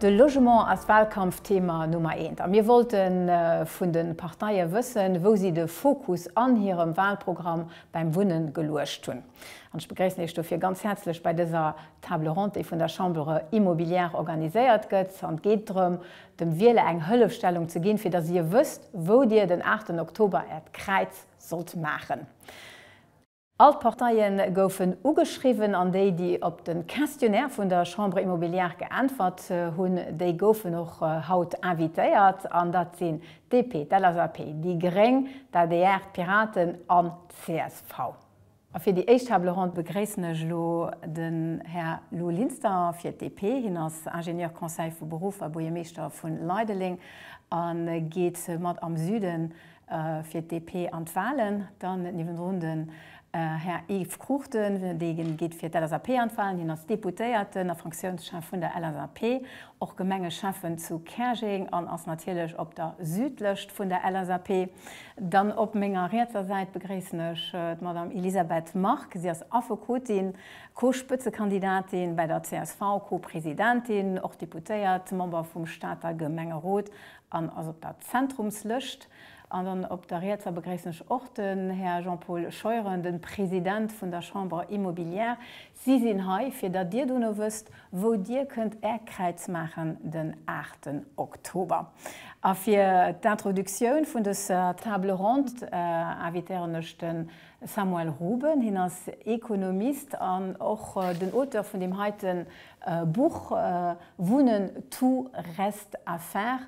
De Logement ass Wahlkampfthema Nummer eent a mir wollte vun de Parteie wëssen, wou si de Fokus an hirem Wahlprogramm beim Wunne geluecht hunn. An ech begréissen Iech dofir ganz häerzlech bei dëser Table ronde, déi vun der Chambre immobilière organiséiert gëtt. An et geet drëm, dem Wieler eng Hëllefstellung ze ginn, fir datt Dir wësst, wou Dir den aachten Oktober Äert Kräiz sollt maachen. All d'Parteie goufen ugeschriwwen an déi, déi op de Questionnaire vun der Chambre immobilière geäntwert hunn, déi goufen och haut invitéiert. An dat sinn d'DP, d'LSAP, déi gréng, d'ADR, d'Piraten an d'CSV. A fir déi éischt Table ronde begréissen ech elo den Här Lou Linster fir d'DP. Hien ass Ingénieur conseil vu Beruff a Buergermeeschter vu Leideleng a geet mat am Süde fir d'DP an d'Wahlen. Dann niewendrun den Här Yves Cruchten, dee geet fir d'LSAP an d'Wahlen. Hien ass Deputéierten a Fraktiounschef vun der LSAP, och Gemengeschäffen zu Käerjeng an ass natierlech op der Südlëscht vun der LSAP. Dann op menger rietser Säit begréissen ech d'Madame Elisabeth Margue. Si ass Affekotin, Co-Spëtzekandidatin bäi der csv, Co-Presidentin, och Deputéiert, Member vum Stater Gemengerot an ass op der Zentrumslëscht. An dann op der rietser begréissen ech och den Här Jean-Paul Scheuren, den President vun der Chambre Immobilière. Si sinn hei fir datt Dir dono wësst wou Dir kënnt Är Kräiz maachen den 8 Oktober. A fir d'Introductioun vun dëser Table ronde invitéieren ech de Samuel Ruben. Hien ass Ekonomist an och den Auteur vun deem heite Buch Wunnen, Tout reste à faire,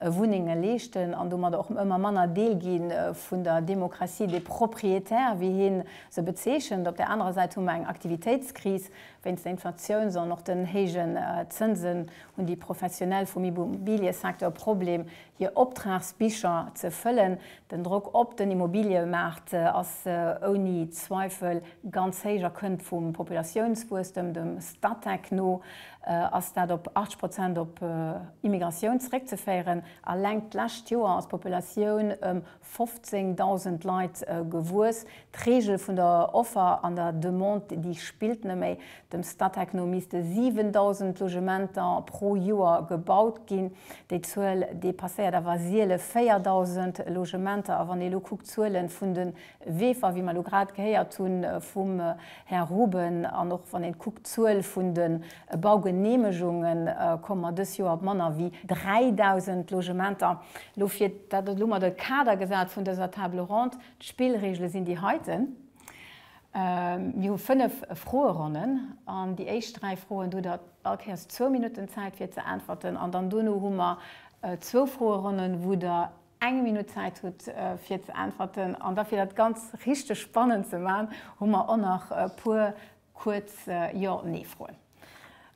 Wunnenge leeschten an domat och ëmmer manner Deel gi vun der Démocratie des propriétaires, wéi hien se bezeechent. Op der anerer Säit hu mer eng Aktivitéitskris wéinst der Inflatiouns an och den héijen Zënsen hunn déi Professionell vum Immobiliësecteur Problem, hir Optragsbicher ze fëllen. Den Drock op den Immobiliëmaart ass ouni Zweifel ganz héich a kënnt vum Populatiounswuesstem, dem Statec no. ass dat op 80 Prozent op Immigratioun zeréckzeféieren. Alleng d'lescht Joer ass d'Populatioun ëm 15.000 Leit gewuess. D'Reegel vun der Offer an der Demande, déi spillt net méi. Dem Statec no misste 7.000 Logementer pro Joer gebaut ginn. Déi Zuel depasséiert awer seele 4.000 Logementer. A wann ee lo kuckt d'Zuele vun de Weefer, wéi mer elo grad gehéiert hu vum Här Ruben, an och wann een kuckt d'Zuel vun de Baugeneemegungen, komme mer dës Joer op manner wéi 3.000 Logementer. Elo fir, dat ass elo mol de Kader gesat vun dëser Table ronde, d'Spillreegele sinn déi heiten. Mir hu fënnef Froeronnen an déi éischt dräi Froen, do hutt Der all Kéiers zwou Minutten Zäit fir ze äntwerten an dann duerno hu mer zwou Froeronnen, wou Der eng Minutt Zäit hutt fir ze äntwerten an da fir dat ganz richteg spannend ze man, hu mer och nach e puer kuerz Jo-Nee-Froen.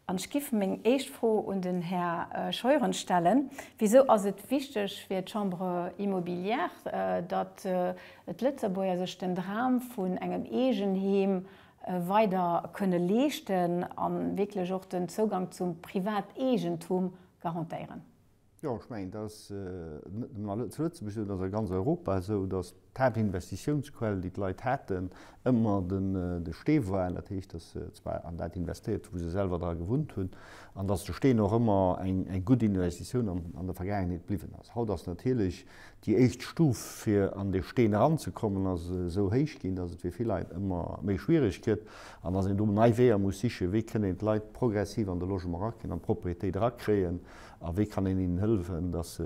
An ech giff meng éischt Fro un den Här Scheuren stellen, Wisou ass et wichteg fir d'Chambre immobilière, datt d'Lëtzebuerger sech den Dram vun engem Eegenheem weider kënne leeschten an wierklech och den Zougang zum Privateegentum garantéieren? Jo, ech mengen, dat ass net nëmme zu Lëtzebuerg esou, dat ass a ganz Europa esou, dass d'Haaptinvestitiounsquell, déi d'Leit haten, ëmmer de Stee war. Dat heescht, dass se zwar an dat investéiert hu wou se selwer dra gewunnt hunn an dass de Steen och ëmmer eng gutt Investitioun an der Vergaangenheet bliwwen ass. Haut ass natierlech déi éischt Stuf fir an dee Steen eranzekommen ass esou héich ginn, dass et fir vill Leit ëmmer méi schwiereg gëtt an dass een do nei Weeër muss sichen, wéi kënnt een d'Leit progressiv an de Logement erakréien, an d'Proprietéit erakréien, A wéi kann een hinnen hëllefen, dass se,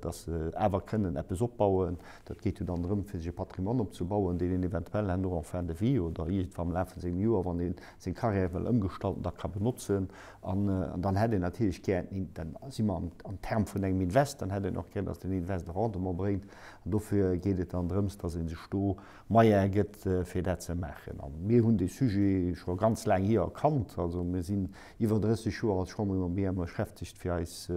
dass se awer kënnen eppes opbauen? Dat geet jo dann drëm, fir sech e Patrimoine opzebauen, deen een eventuell herno en fin de vie oder iergendwa am Laf vu sengem Joer, wann ee seng Carrière wëll ëmgestalten, da ka benotzen. An dann hätt een natierlech gär, dann si mer am Term vun engem Invest, dann hätt een och gär, dass den Invest e Rendement bréngt. An dofir geet et dann drëms, dass ee sech do Moyene gëtt, fir dat ze maachen. A mir hunn dee Sujet scho ganz laang hir erkannt. Also mir sinn iwwer 30 Joer als Chambre de Commerce beschäftegt, fir eis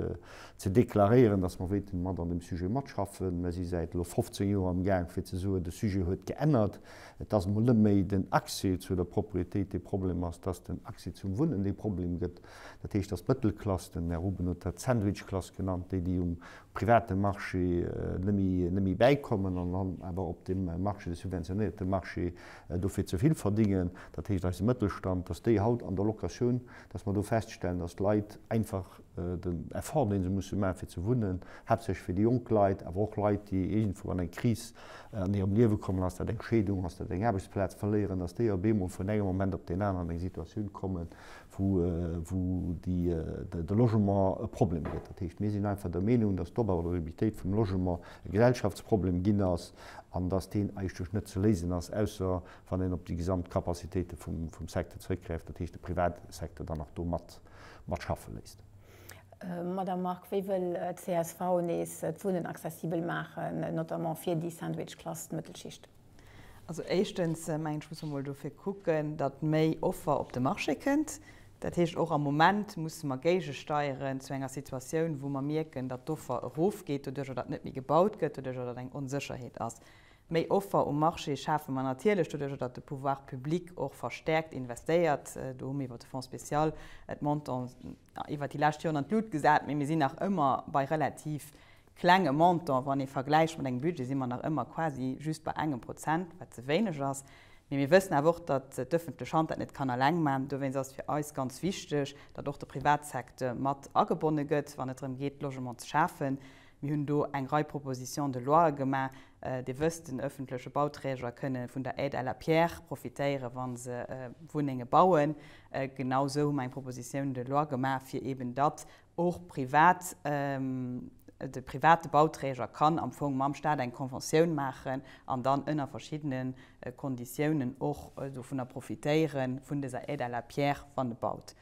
ze deklaréieren, dass mer wéilten mat an deem Sujet matschaffen. Mer si säit elo 15 Joer am Gaang, fir ze soen, de Sujet huet geännert. Et ass emol net méi den Accès zu der Propriétéit, dee Problem ass, dass den Accès zum Wunnen dee Problem gëtt. Dat heescht, dass d'Mëttelklass, den Här Ruben huet dat d'Sandwichklass genannt, déi, déi um private Marché net méi bäikommen an dann awer op deem Marché, dee subventionéierte Marché, dofir ze vill verdingen, dat heescht eise Mëttelstand, dass déi haut an der Locatioun, dass mer do feststellen, dass d'Leit einfach den Effort, dee se musse maachen, fir ze wunnen, haaptsächlech fir déi jonk Leit, awer och Leit, déi iergendwou an eng Kris an hirem Liewe kommen, ass dat eng Scheedung, ass dat eng Aarbechtsplaz verléieren, dass déi op eemol vun engem Moment op deen aneren an eng Situatioun kommen, wou de Logement e Problem gëtt. Dat heescht, mir sinn einfach der Meenung, dass d'Oberlabilitéit vum Logement e Gesellschaftsproblem ginn ass, an dass deen eigentlech net ze léisen ass, ausser wann een op déi gesamt Capacitéite vum Secteur zeréckgräift, dat heescht de Privatsecteur dann nach do mat schaffe léisst. Madame Margue, wéi wëll csv nees d'Wunnen accessibel maachen, notamment fir déi Sandwich-Klass, d'Mëttelschicht? Also éischtens mengen ech, muss mer mol dofir kucken, datt méi Offer op de Marché kënnt. Dat heescht, och am Moment musse mer géigesteieren zu enger Situatioun, wou mer mierken, datt d'Offer erofgeet doduerch, oder datt net méi gebaut gëtt doduerch, oder datt eng Onsécherheet ass. Méi Offer um Marché schafe mer natierlech doduerch, datt de Pouvoir public och verstärkt investéiert. Do hu mir iwwert de Fonds spécial d'Montants iwwert déi lescht Joren an d'Lut gesat, mä mir sinn nach ëmmer bei relativ klenge Montant, wann ee vergläicht mat engem Budget, si mer nach ëmmer quasi just bei engem Prozent, wat ze wéineg ass. Mee mir wëssen awer och, datt d'ëffentlech Hand dat net kann eleng maachen. Dowéinst ass et fir eis ganz wichteg, datt och de Privatsecteur mat agebonne gëtt, wann et drëm geet, Logement ze schafen. Mir hunn do eng Rei Propositions de loie gemaach. Dir wësst, den ëffentleche Bauträger kënne vun der Aide à la pierre profitéieren, wa se Wunnenge bauen. Genau esou hu mer eng Proposition de loi gemaach, fir eeben datt Och privat, de private Bauträger kann am Fong mam Staat eng Conventioun maachen an dann ënner verschiddene Konditiounen och dovunner profitéieren, vun dëser Aide à la pierre, wann e baut.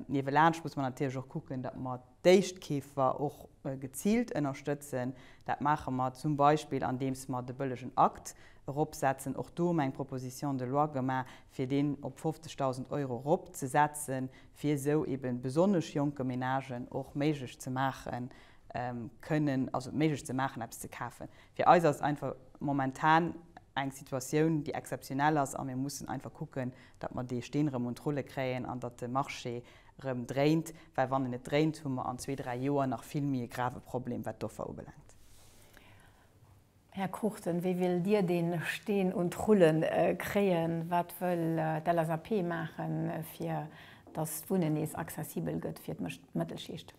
Niewelaanscht muss mer natierlech och kucken, datt mer d'Éischtkeefer och geziilt ënnerstëtzen. Dat maache mer zum Beispill andeems mer de bëllegen Akt eropsetzen. Och do hu mer eng Proposition de loi gemaach, fir deen op 50.000 Euro eropzesetzen, fir esou eben besonnesch jonke Menagen och méiglech ze maachen, kënnen, also méiglech ze maachen eppes ze kafen. Fir eis ass et einfach momentan eng Situatioun déi exzeptionell ass a mir mussen einfach kucken, datt mer dee Steen erëm un d'Rulle kréien an datt de Marché erëm dréint, well wann en net dréint, hu mer an zwee, dräi Joer nach vill méi e grave Problem wat d'Offer ubelaangt. Här Cruchten, wéi wëllt Dir dee Steen un d'Rulle kréien? Wat wëll d'LSAP maachen, fir datt d'Wunnen nees accessibel gëtt fir d'Mëttelschicht?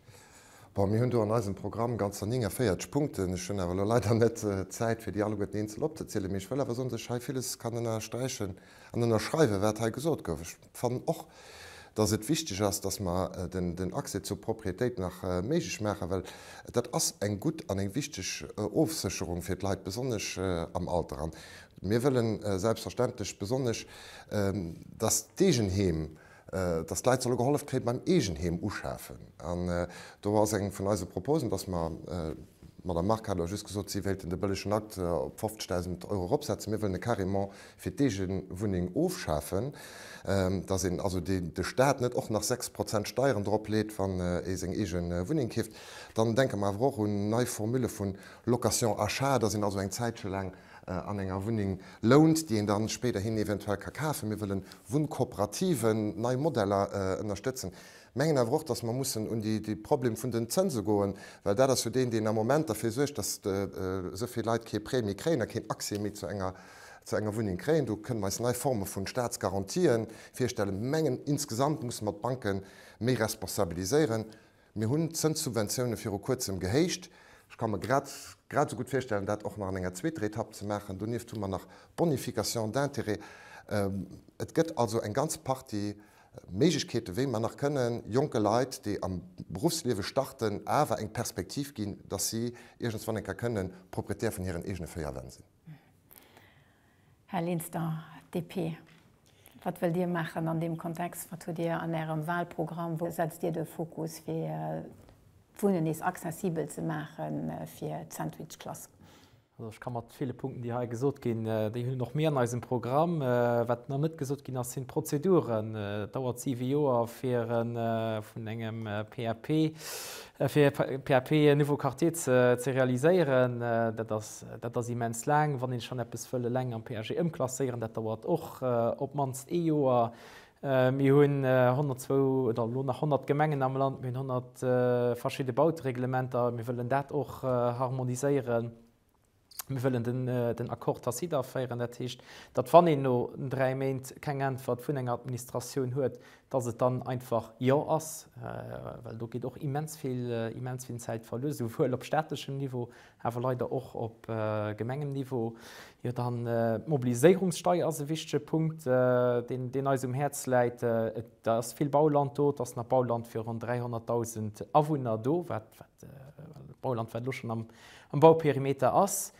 Bon, mir hunn do an eisem Programm ganzer 49 Punkten. Ech hunn awer elo leider net d'Zäit, fir déi alleguerten eenzel opzezielen. Mee ech wëll awer soen, dass ech hei villes kann ënnersträichen an ënnerschreiwen, wat hei gesot gouf. fannen och, dass et wichteg ass, dass mer den Accès zur Propriétéit nach méiglech maachen, well dat ass eng gutt an eng wichteg Ofsécherung fir d'Leit, besonnesch am Alter. An mir wëlle selbstverständlech besonnesch, dass d'Eegenheem, dass d'Leit solle gehollef kréie beim Eegenheem uschafen. An do ass eng vun eise Proposen, dass mer, d'Madame Margue hat elo just gesot, si wéilten de bëllegen Akt op 50.000 Euro eropsetzen, mir wëllen e carrément fir d'Eegewunneng ofschafen, dass een also de Staat net och nach 6 Prozent Steieren drop leet, wann ee seng eege Wunneng keeft. Dann denke mer awer och un nei Formule vun Location-Achat, dass een also eng Zäitche laang an enger Wunneng lount, déi een da spéiderhin eventuell ka kafen. Mir wëllen Wunnkooperativen, nei Modeller ënnerstëtzen. Mengen awer och, dass mer mussen un de Problem vun den Zënse goen, well dat ass jo deen, deen am Moment derfir suergt, dass esou vill Leit kee Prêt méi kréien a keen Accès méi zu enger. zu enger Wunneng kréien. Do kënnen mer eis nei Forme vu Staatsgarantien virstellen. Mir mengen, insgesamt musse mer d'Banke méi responsabiliséieren. Mir hunn d'Zënssubventioune viru Kuerzem gehéicht. Ech ka mer grad grad esou gutt virstellen, dat och nach an enger zweeter Etapp ze maachen. Donieft hu mer nach d'Bonification d'intérêts. Et gëtt also eng ganz Partie Méiglechkeeten, wéi mer nach kënnen jonke Leit, déi am Beruffsliewe starten, awer eng Perspektiv ginn, dass si iergendwann eng Kéier kënnen Propriétaire vun hiren eegene véier Wänn sinn. Här Linster, DP, wat wëllt Dir maachen an deem Kontext? Wat hutt Dir an Ärem Wahlprogramm? Wou setzt Dir de Fokus, fir d'Wunnen nees accessibel ze maache fir d'Sandwichklass? Also ech ka mat ville Punkten, déi hei gesot ginn, déi hunn och mir an eisem Programm. Wat nach net gesot ginn ass, sinn d'Prozeduren. Et dauert siwe Joer, fir vun engem PAP Fir PAP nouveau quartier ze realiséieren, dat ass immens laang. Wann ee schonn eppes wëll eleng am PAG ëmklasséieren, dat dauert och op d'mannst ee Joer. Mir hunn 102 oder elo nach 100 Gemengen am Land, mir hunn 100 verschidde Bautereglementer, mir wëllen dat och harmoniséieren. Mir wëllen den Accord tacite aféieren. Dat heescht, datt, wann een no dräi Méint keng Äntwert vun enger Administratioun huet, datt et dann einfach Jo ass, well do geet och immens vill, immens vill Zäit verluer, souwuel op staatlechem Niveau, awer leider och op gemengem Niveau. Jo, dann d'Mobiliséierungssteier ass e wichtege Punkt, deen eis um Häerz läit. Et ass vill Bauland do, et ass nach Bauland fir ronn 300.000 Awunner do, wat D'Bauland, wat elo schonn am Bauperimeter ass,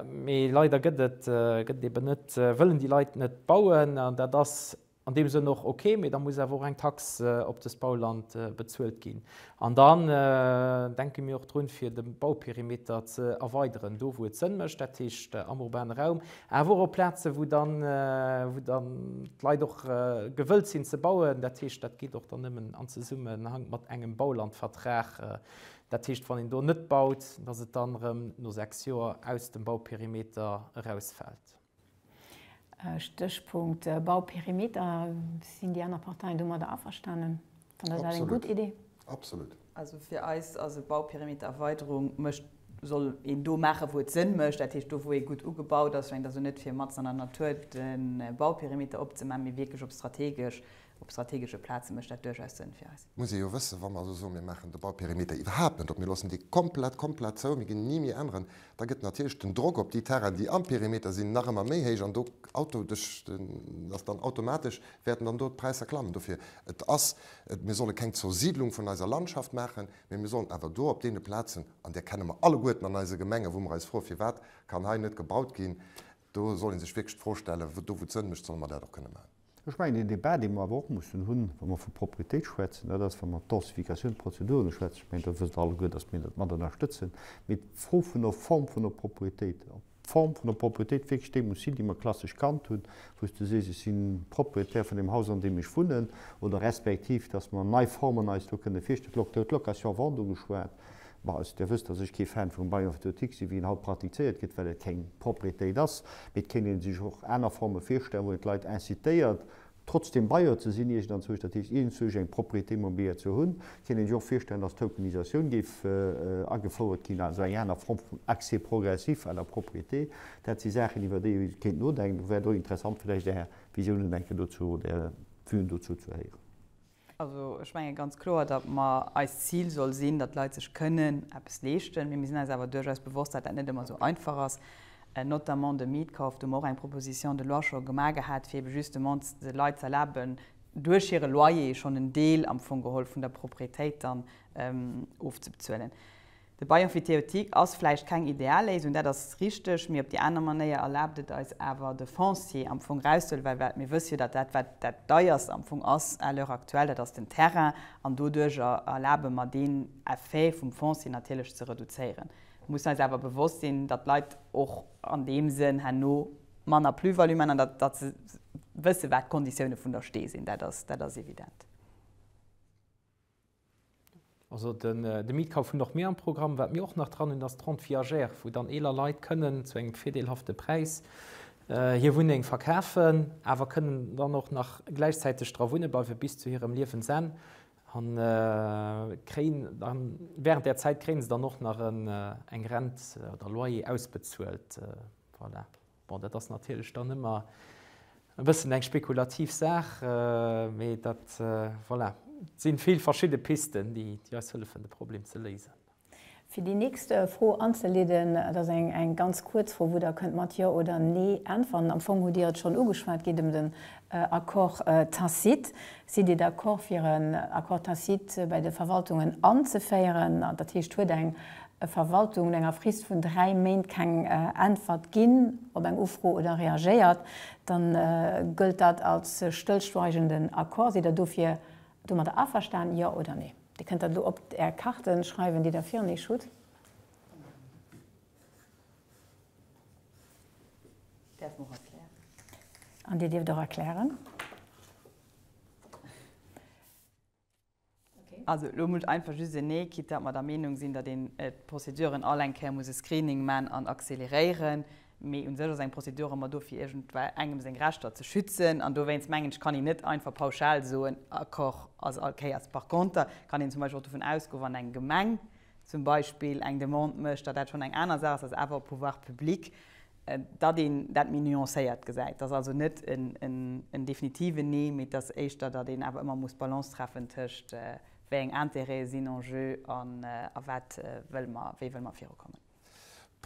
mee leider gëtt et et eben net, wëllen déi Leit net bauen. An dat ass an deem Sënn och ok, mee da muss awer och eng Tax op dëst Bauland bezuelt ginn. An dann denke mir och drun, fir de Bauperimeter ze erweideren, do wou et Sënn mécht, dat heescht am urbane Raum. Awer och op Plazen, wou dann d'Leit och gewëllt sinn ze bauen. Dat heescht, dat geet och dann nëmmen am Zesummenhank mat engem Baulandvertrag. Dat heescht, wann een do net baut, dass et dann erëm no sechs Joer aus dem Bauperimeter erausfält. Stéchpunkt Bauperimeter, Sinn déi aner Parteien domadder averstanen? An dat ass eng gutt Idee. Absolut. Also fir eis ass e Bauperimetererweiderung mécht, soll een do maachen, wou et Sënn mécht, dat heescht do, wou ee gutt ugebaut ass. Schéngt also net fir matzen an der Natur de Bauperimeter opzemaachen, mee wierklech op strategesch, op strategesche Plaze mécht dat duerchaus Sënn fir eis. Muss ee jo wëssen, wa mer also soen, mir maachen de Bauperimeter iwwerhaapt net op, mir loossen dee komplett, komplett zou, mir ginn ni méi änneren, da gëtt natierlech den Drock op déi Terrainen, déi am Perimeter sinn, nach ëmmer méi héich an do auto, duerch den, ass dann automatesch Wäerten dann do d'Präisser klammen? Dofir et ass et, mir solle keng Zersiedlung vun eiser Landschaft maachen, mee mir sollen awer do op deene Plazen, an där kenne mer alleguerten an eise Gemengen, wou mer eis froen, firwat kann hei net gebaut ginn, do soll ee sech wierklech d'Fro stellen, do wou et Sënn mécht, solle mer dat och kënne maachen. Ech mengen, deen Débat, dee mer awer och mussen hunn, wa mer vu Propriétéit schwätzen, dat ass, wa mer d'Densification, d'Prozeduren schwätzen, ech mengen, dat wësst Der alleguer, dass mir dat mat ënnerstëtzen, mee d'Fro vun der Form vun der Propriétéit, D'Form vun der Propriétéit wierklech déi muss sinn, déi mer klassesch kannt hunn, wou s de sees, ech si Propriétaire vun deem Haus, an deem ech wunnen, oder respektiv, dass mer nei Formen eis do kënne virstellen, lo gëtt d'Location à vendre ugeschwat. Bon, also Dir wësst, dass ech kee Fan vum Bail emphytéotique sinn, wéi en haut praktizéiert gëtt, well et keng Propriétéit ass. Mee et kéint ee sech och aner Forme virstellen, wou een d'Leit incitéiert, Trotzdem Bailleur ze sinn, Eechen an Zurich, dat heescht Eechen, Zurich eng Propriété immobilière ze hunn, kéint een sech och virstellen, dass d'Tokenisatioun géif agefouert ginn, also eng aner Form vum Accès progressif à la propriété. Dat si Saachen, iwwer déi ee kéint nodenken. Et wär do interessant, vläicht Är Visiounen eng Kéier dozou oder Är Vuen dozou ze héieren. Also ech menge ganz kloer, datt mer, eist Zil soll sinn, datt d'Leit sech kënnen eppes leeschten. Mee mir sinn eis awer duerchaus bewosst, datt dat net ëmmer esou einfach ass, notamment de Mietkauf. Do hu mer och eng Proposition de loi scho gemaach gehat, fir ebe justement de Leit ze erlaben, duerch hire Loyer schonn en Deel am Fong geholl vun der Proprietéit dann ofzebezuelen. De Bail emphytéotique ass vläicht keng ideal Léisung, dat ass richteg, mee op déi aner Manéier erlaabt et eis awer, de Foncier am Fong erauszehuelen, well wat mir wësse jo, datt dat, wat dat deierst am Fong ass à l'heure actuelle, dat ass den Terrain, an doduerjer erlabe mer deen Effet vum Foncier natierlech ze reduzéieren. Mir mussen eis awer bewosst sinn, datt d'Leit och an deem Sënn herno manner Plus-value maachen an datt se wëssen, wat d'Konditioune vun der Stee sinn, dat ass evident. Also de Mietkauf hunn och mir am Programm. Wat mir och nach dran hunn, ass d'Rente viagère, wou dann eeler Leit kënnen zu engem virdeelhafte Präis hir Wunneng verkafen, awer kënnen dann och nach gläichzäiteg dra wunne bleiwe bis zu hirem Liewensenn a kréien dann während där Zäit kréie se dann och nach eng Rent oder Loyer ausbezuelt. Voilà. Bon, dat ass natierlech dann ëmmer e bëssen eng spekulativ Saach, mee dat, voilà, si vill verschidde Pisten, déi eis hëllefen, de Problem ze léisen. Fir déi nächst Fro anzeleeden, et ass eng ganz kuerz Fro, wou Der kënnt mat Jo oder Nee äntweren. Am Fong hutt Dir et schonn ugeschwat, geet ëm den Accord tacite. Sidd Dir d'accord fir en Accord tacite bei de Verwaltungen anzeféieren, dat heescht huet eng Verwaltung no enger Frist vun dräi Méint keng Äntwert ginn op eng Ufro oder reagéiert, dann gëllt dat als stëllschweigenden Accord. Sidd Der dofir domadder averstanen, jo oder nee? Dir kënnt dat elo op Är Karte schreiwen, déi Der virun Iech hutt. Däerf mer och erklären. An Dir dierft och erklären. Okay. Also elo muss einfach just en Nee, quitte datt mer der Meenung sinn, datt een d'Prozeduren all eng Kéier muss e Screening man an accéléréieren. Mee un sech ass eng Prozedur ëmmer do fir iergendwei engem seng Rechter ze schützen. An dowéinst mengen ech, kann een net einfach pauschal soen, Accord ass all Kéiers. Par conter kann een zum Beispill och dovun ausgoen, wann eng Gemeng zum Beispill eng Demande mécht, datt dat schonn eng aner Saach ass, ass awer op Pouvoirs publics, datt een dat méi nuancéiert gesäit. Datt also net en definitiven Nee, mee datt éischter, datt een awer ëmmer muss d'Balance treffen tëscht wéi eng Intérêtë sinn en jeu a wat wëlle mer, wéi wëlle mer virukommen.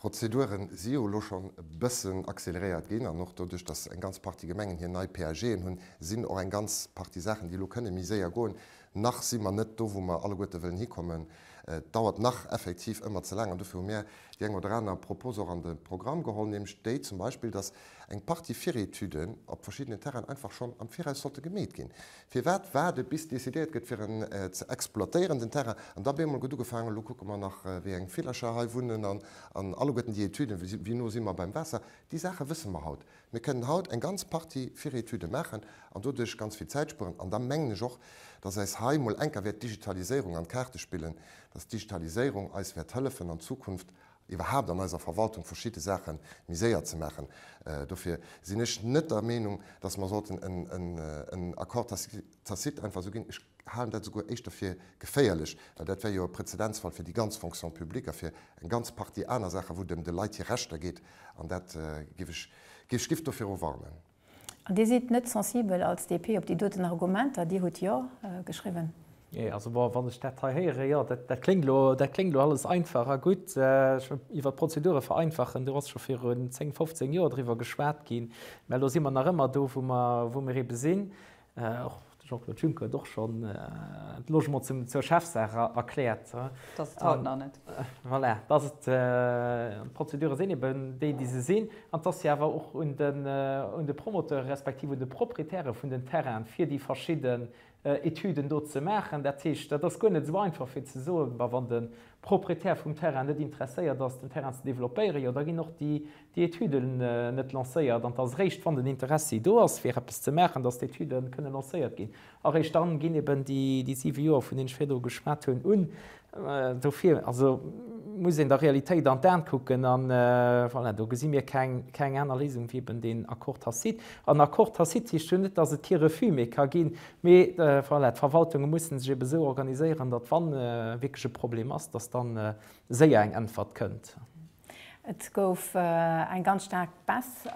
D'Prozedure si jo elo schonn e bëssen acceleréiert ginn an och doduerch, datt eng ganz Partie Gemengen hir nei PAGen hunn, sinn och eng ganz Partie Saachen, déi elo kënne méi séier goen. Nach si mer net do, wou mer alleguerte wëllen hikommen. Et dauert nach effektiv ëmmer ze laang an dofir hu mir déi eng oder aner Propos och an de Programm geholl, nämlech déi zum Beispill, datt eng Partie Virétuden op verschiddenen Terrainen einfach schonn am Viraus sollte gemeet ginn, Firwat waarde bis decidéiert gëtt fir en ze exploitéieren den Terrain an da beemol gëtt ugefaangen, elo kucke mer nach wéi eng Villercher hei wunnen an alleguerten déi Etüden, wéi no si mer beim Waasser, déi Saache wësse mer haut. Mir kënnen haut eng ganz Partie Virëtüde maachen an doduerch ganz vill Zäit spueren an da mengen ech och, dass eis hei mol enker wäert d'Digitaliséierung an d'Kaarte spillen, dass d'Digitaliséierung eis wäert hëllefen an Zukunft iwwerhaapt an eiser Verwaltung verschidde Saache méi séier ze maachen. Dofir sinn ech net der Meenung, dass mer sollten en Accord tacite einfach esou ginn. Ech halen dat esouguer éischter fir geféierlech, well dat wär jo e Prezedenzfall fir déi ganz Fonction publique a fir eng ganz Partie aner Saachen, wou et ëm de Leit hir Rechter geet. An dat géif ech, géif ech dofir warnen. An Dir sidd net sensibel als DP op déi doten Argumenter? Dir hutt Jo geschriwwen. Jee, also wann ech dat hei héieren, jo, dat kléngt elo, dat kléngt elo alles einfach a gutt. Iwwert d'Prozedure vereinfachen, do ass scho virun zéng, fofzéng Joer driwwer geschwat ginn, mä elo si mer nach ëmmer do, wou mer ebe sinn. Och de Jean-Claude Juncker huet och schonn de Logement zur Chefsaach erkläert. Dass et haut nach net. Voilà, dass et, d'Prozedure sinn eben déi, déi se sinn, an dass se awer och un de Promoteure respektiv un de Proprietäre vun den Terrainen, fir déi verschidde Etüden do ze maachen. Dat heescht, dat ass guer net esou einfach fir ze soen, ma wann de Proprietär vum Terrain net interesséiert ass, den Terrain ze developpéieren, jo da ginn och déi déi Etüde net lancéiert an et ass eréischt, wann den Interessi do ass, fir eppes ze maachen, datt d'Etüde kënne lancéiert ginn. A eréischt dann ginn eben déi siwe Joer, vun deenen ech virdru geschwat hunn, un. Dofir also muss een der Realitéit an d'An kucken a voilà, do gesi mir keng aner Léisung wéi eben deen Accord tacite. An Accord tacite heescht jo net, datt et kee Refus méi ka ginn, mee voilà, d'Verwaltunge mussen sech eben esou organiséieren, datt wann wierklech e Problem ass, datt da séier eng Äntwert kënnt. Et gouf eng ganz staark Baisse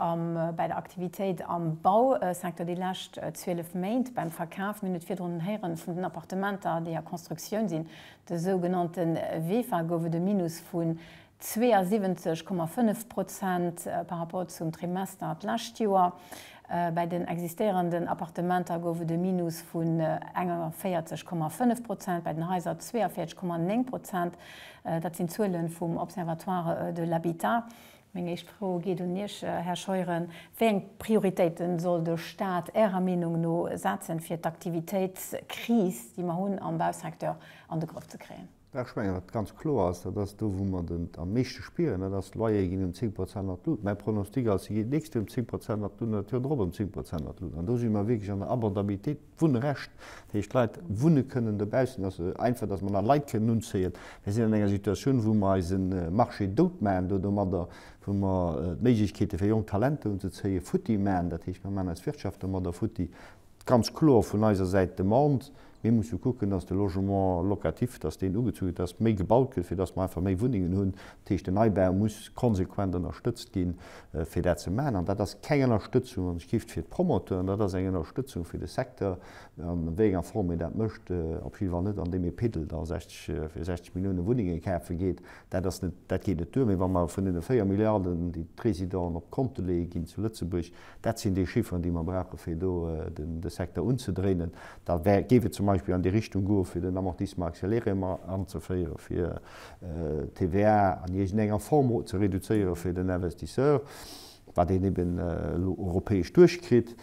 bei der Aktivitéit am Bausecteur déi lescht 12 Méint. Beim Verkaf, mir hunn et virdrun héieren, vun den Appartementer, déi a Constructioun sinn, de sougenannte Vefa, gouf et e Minus vun 72,5 Prozent par rapport zum Trimester d'lescht Joer. Bei den existéierenden Appartementer gouf et e Minus vun 41,5 Prozent, bei den Haiser 42,9 Prozent. Dat sinn d'Zuele vum Observatoire de l'habitat. Meng éischt Fro geet un Iech, Här Scheuren. Wéi eng Prioritéite soll de Stat Ärer Meenung no setzen, fir d'Aktivitéitskris, déi mer hunn am Bausecteur, an de Grëff ze kréien? Ech mengen, wat ganz kloer ass, dat ass do, wou mer et am meeschte spieren, dat ass, d'Loyere ginn ëm 10 Prozent an d'Lut. Mäi Pronostic ass, se geet nächst Joer ëm 10 Prozent an d'Lut an dat Joer drop ëm 10 Prozent an d'Lut. An do si mer wierklech an der Abordabilitéit. D'Wunnrecht, dat heescht d'Leit wunne kënnen dobaussen, ass esou einfach, datt mer nach Leit kënnen unzéien. Mir sinn an enger Situatioun, wou mer eise Marché dout maachen do domadder, wou mer d'Méiglechkeete fir jonk Talenter unzezéien futti maachen. Dat heescht, mer maachen eis Wirtschaft domadder futti. Ganz kloer vun eiser Säit d'Demande, mir musse kucken, datt de Logement locatif, datt deen ugezu gëtt, datt méi gebaut gëtt, fir datt mer einfach méi Wunnengen hunn. Dat heescht, den Neibau muss konsequent ënnerstëtzt ginn, fir dat ze maachen. An dat ass keng Ënnerstëtzung an ech géif fir d'Promoteuren, dat ass eng Ënnerstëtzung fir de Secteur, an wéi enger Form een dat mécht, op jidde Fall net an deem ee Piddel da 60, fir 60 Milliounen Wunnenge kafe geet. Dat ass net, dat geet net duer. Mee wa mer vun deene 4 Milliarden, déi d'Résidenten op d'Konte leeë ginn zu Lëtzebuerg, dat sinn déi Chifferen, déi mer brauchen, fir do de Secteur unzedréinen, da géif et zum Beispill an déi Richtung goen, fir den Amortissement accéléré mat anzeféieren, fir d'TVA an iergend enger Form ze reduzéieren fir den Investisseur, wat een eben elo europäesch duerchkritt,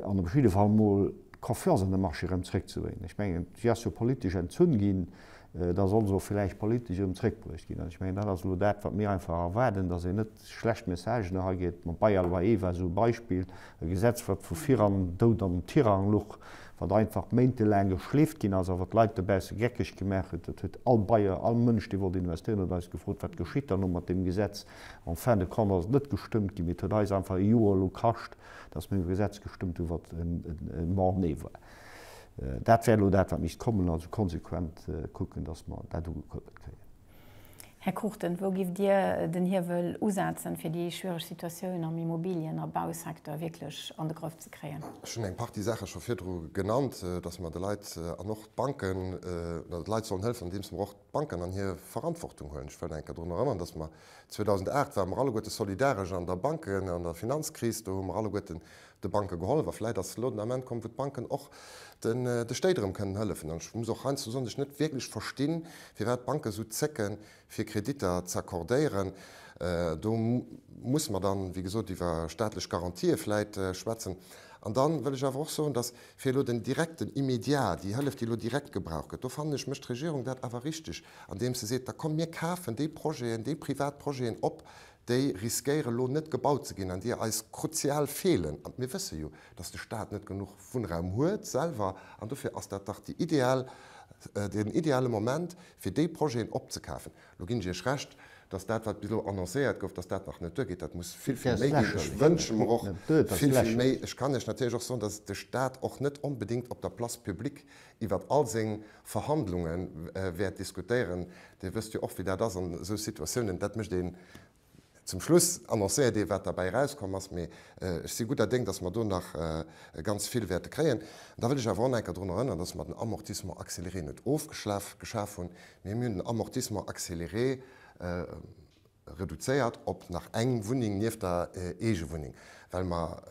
an op jidde Fall emol d'Confiance an de Marché erëm zréckzebréngen. Ech mengen, si ass jo politesch entzunn ginn, da soll se och villäicht politesch erëm zréckbruecht ginn. An ech mengen, dat ass elo dat, wat mir einfach erwaarden, datt een net schlecht Messagen era geet. Mam Bail à loyer war esou e Beispill, e Gesetz wat vu viran Doud an Tirang luch, wat einfach méintelaang geschleeft ginn ass a wat d'Leit dobausse geckeg gemaach huet. Dat huet all Bailleur, all Mënsch dee wollt investéieren huet eis gefrot, wat geschitt dann elo mat deem Gesetz? En fin de compte ass et net gestëmmt ginn, mee et huet eis einfach e Joer elo kascht, datt mir e Gesetz gestëmmt hunn, wat e Mort-né war. Dat wär elo dat wat misst kommen, also konsequent kucken, datt mer dat ugekuerbelt kréien. Här Cruchten, wou giff Dir den Hiewel usetzen, fir déi schwiereg Situatioun am Immobilien a Bausecteur wierklech an de Grëff ze kréien? Ech hunn eng Partie Saache scho virdru genannt, dass mer de Leit an och d'Banken, dass mer de Leit sollen hëllefen, andeems mer och d'Banken an hir Verantwortung huelen. Ech wëll nach eng Kéier drun erënnern, dass mer 2008 ware mer alleguerte solidaresch an der Banken an der Finanzkris. Do hu mer alleguerte de Banke gehollef a vläit ass elo den Ament komm, wou d'Banken och de Stéit erëm kënnen hëllefen. An ech muss och heiansdo soen, dass ech net wierklech verstinn, firwat d'Banken esou zécken, fir Kreditter z'accordéieren. Do muss mer dann, wéi gesot, iwwer staatlech Garantië vläit schwätzen. An da wëll ech awer och soen, dass fir elo den direkten, immédiat, déi Hëllef, déi elo direkt gebraucht gëtt, do fannen ech, mécht d'Regierung dat awer richtig, andeem se seet, da komm mir kafen déi Projeten, déi privat Projeten op, déi riskéiere lo net gebaut ze ginn an déi eis kruzial feelen. An mir wësse jo, datt de Staat net genuch Wunnraum huet selwer an dofir ass dat dach déi ideal, den ideale Moment, fir déi Projeten opzekafen. Lo ginn ech Iech Recht, datt dat, wat bis elo annoncéiert gouf, datt dat nach net duergeet. Dat muss vill, vill méi ginn. Ech wënsche mer och vill, vill méi. Ech kann Iech natierlech och soen, datt de Staat och net onbedéngt op der Place publique iwwert all seng Verhandlunge wäert diskutéieren. Dir wësst jo och, wéi dat ass an esou Situatiounen, dat mécht een zum Schluss, annoncéiert ee wat derbäi erauskomm ass. Mee ech si gudder Déng, datt mer do nach ganz vill wäerte kréien. An da wëll ech awer och nach eng Kéier drun erënnern, datt mer den Amortissement accéléré net ofgeschaf hunn, mee mir hunn den Amortissement accéléré, reduzéiert op nach eng Wunneng nieft der Eegewunneng, well mer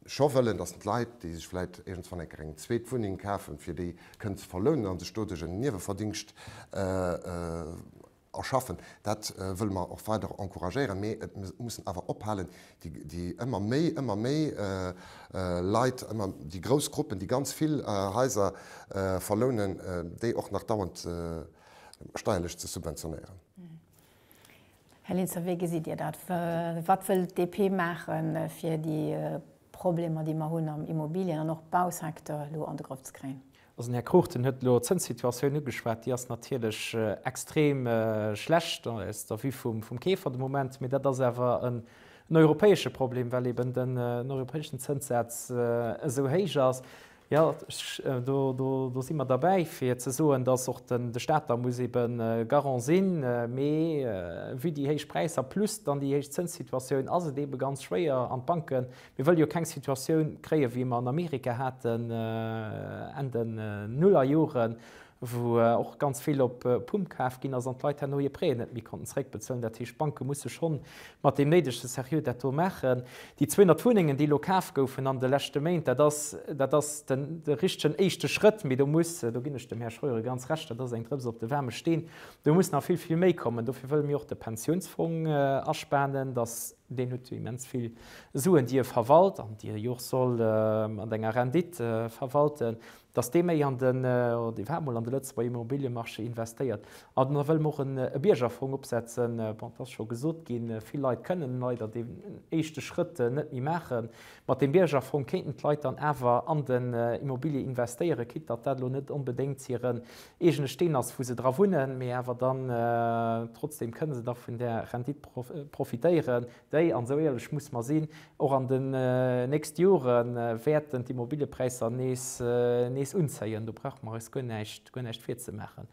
scho wëllen, dass d'Leit, déi sech vläicht iergendswann eng Kéier eng zweet Wunneng kafen, fir déi kënnen ze verlounen a sech doduerch en Nieweverdingscht erschaffen. Dat wëlle mer och weider encouragéieren. Mee et mussen awer ophalen, déi ëmmer méi, ëmmer méi Leit, ëmmer déi grouss Gruppen, déi ganz vill Haiser verlounen, déi och nach dauernd steierlech ze subventionéieren. Här Linster, wéi gesitt Dir dat? Wat wëll d'DP maache fir déi Problemer, déi mer hunn am Immobilien an och Bausecteur elo an de Grëff ze kréien? Also den Här Cruchten huet elo d'Zënssituatioun ugeschwat. Déi ass natierlech extrem schlecht aus der Vue vum Keefer de Moment. Mee dat ass awer en europäesche Problem, well eeben den europäeschen Zënssaz esou héich ass. Jo, do si mer derbäi, fir ze soen, dass och de Stat da muss ebe Garant sinn. Mee vue déi héich Präisser plus dann déi héich Zënssituatioun ass et ebe ganz schwéier an d'Banken, mir wëlle jo keng Situatioun kréien, wéi mer an Amerika haten Enn den Nullerjoren, wou och ganz vill op Pump kaf ginn ass an d'Leit herno hir Prêten net méi konnten zréckbezuelen. Dat heescht, d'Banke musse schonn mat deem néidege Seriö dat do maachen. Déi 200 Wunnengen, déi elo kaf goufen an de leschte Méint, dat ass, dat ass den richtegen éischte Schrëtt, mee do muss, do ginn ech dem Här Scheuren ganz Recht, dat ass eng Drëps op de waarme Steen, do muss nach vill, vill méi kommen. Dofir wëlle mir och de Pensiounsfong aspanen, dass, deen huet jo immens vill Suen, déi e verwalt an déi e jo och soll mat enger Rendite verwalten, dass dee méi an den, oder dee war emol an de Lëtzebuerger Immobiliëmarché investéiert. An da wëlle mer och e Biergerfong opsetzen. Bon, et ass scho gesot ginn, vill Leit kënnen leider deen éischte Schrëtt net méi maachen. Mat deem Biergerfong kéinten d'Leit dann awer an den Immobilier investéieren, quitte datt dat elo net onbedéngt hiren eegene Steen ass, wou se dra wunnen, mee awer dann trotzdem kënne se da vun där Rendite profitéieren. déi, an esou éierlech musse mer sinn, och an den nächste Jore wäerten d'Immobiliëpräisser nees unzéien, do brauche mer eis guer näischt virzemaachen.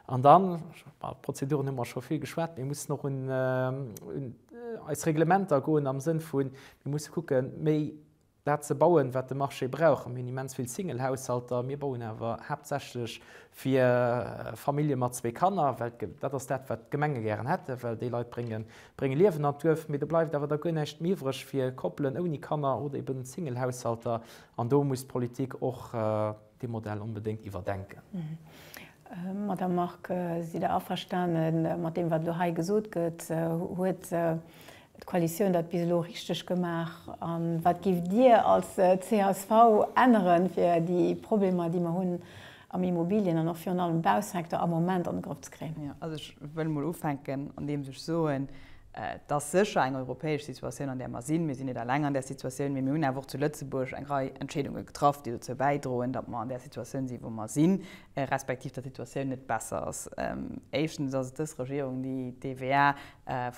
An dann, iwwer d'Prozeduren hu mer scho vill geschwat, mir mussen och un eis Reglementer goen am Sënn vu mir musse kucken, méi dat ze bauen, wat de Marché brauch. Mir hunn immens vill Single-Haushalter, mir bauen awer haaptsächlech fir Famillje mat zwee Kanner, well dat ass dat, wat d'Gemenge gären hätten, well déi Leit brénge Liewen an d'Duerf. Mee do bleift awer da guer näischt méi iwwreg fir Koppelen ouni Kanner oder eben Single-Haushalter. An do muss d'Politik och. Dee Modell onbedéngt iwwerdenken. Madame Margue, sidd Der averstane mat deem, wat elo hei gesot gëtt? Huet d'Koalitioun dat bis elo richteg gemaach? A wat géift Dir als csv änneren, fir déi Problemer, déi mer hunn am Immobilien an och virun allem Bausecteur am Moment an de Grëff ze kréien? Also ech wëll emol ufänken, andeems ech soen, Et ass sécher eng europäesch Situatioun, an där mer sinn. Mir sinn net eleng an där Situatioun, mee mir hunn awer och zu Lëtzebuerg eng Rei Entscheedunge getraff, déi dozou bäidroen, datt mer an där Situatioun sinn, wou mer sinn, respektiv datt d'Situatioun net besser ass. Éischtens ass et dës Regierung, déi d'TVA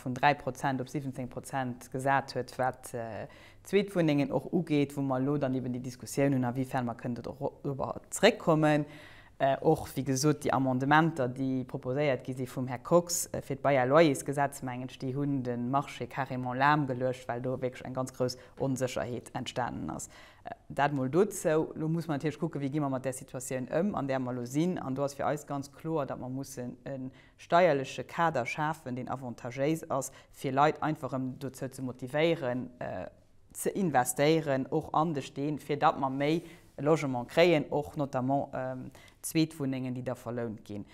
vun 3 Prozent op 17 Prozent gesat huet, wat d'Zweetwunnengen och ugeet, wou mer elo dann eben déi Diskussioun hunn, awifern mer kënnen dorobber zréckkommen. Och, wéi gesot, déi Amendementer, déi proposéiert gi si vum Här Kox fir d'Bail à loyersgesetz, mengen ech, déi hunn de Marché carrément lahmgeluecht, well do wierklech eng ganz grouss Onsécherheet entstanen ass. Dat emol dozou. Elo muss mer natierlech kucken, wéi gi mer mat där Situatioun ëm, an där mer elo sinn. An do ass fir eis ganz kloer, datt mer mussen e steierleche Kader schafen, deen avantagéis ass, fir Leit einfach erëm dozou ze motivéieren, ze investéieren och an de Steen, fir datt mer méi Logement kréien, och notamment Zweetwunnengen, déi da verlount ginn.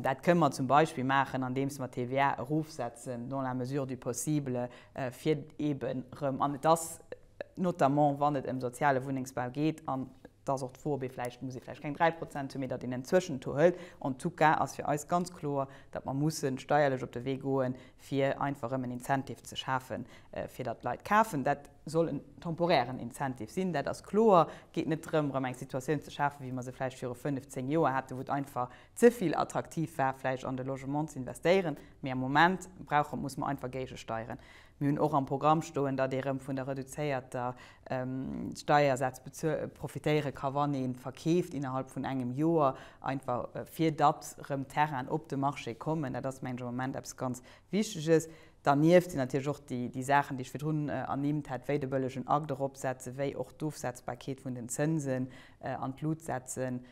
Dat kënnen mer zum Beispill maachen, andeems mer d'TVA erofsetzen, dans la mesure du possible, fir eeben erëm, an et ass notamment, wann et ëm soziale Wunnengsbau geet, an et ass och d'Fro, ob ee vläicht, muss ee vläicht keng 3 Prozent hunn, mee datt een en Zwëschentour hëlt. En tout cas ass fir eis ganz kloer, datt mer mussen steierlech op de Wee goen, fir einfach erëm en Incentive ze schafen, fir datt d'Leit kafen. Dat soll en temporären Incentive sinn, dat ass kloer. Et geet net drëm, erëm eng Situatioun ze schafen, wéi mer se vläicht viru fënnef, zéng Joer haten, wou et einfach ze vill attraktiv war, vläicht an de Logement ze investéieren. Mee am Moment brauche, muss mer einfach géigesteieren. Mir hunn och am Programm stoen, datt ee erëm vun der reduzéierter Steiersätz profitéiere ka wann ee verkeeft innerhalb vun engem Joer, einfach fir datt erëm Terrainen op de Marché kommen. Dat ass mengen ech am Moment eppes ganz Wichteges. Dernieft sinn natierlech och déi Saachen, déi ech virdrun ernimmt hat, wéi de bëllegen Akt eropsetzen, wéi och d'Ofsetzbarkeet vun den Zënsen an d'Lut setzen,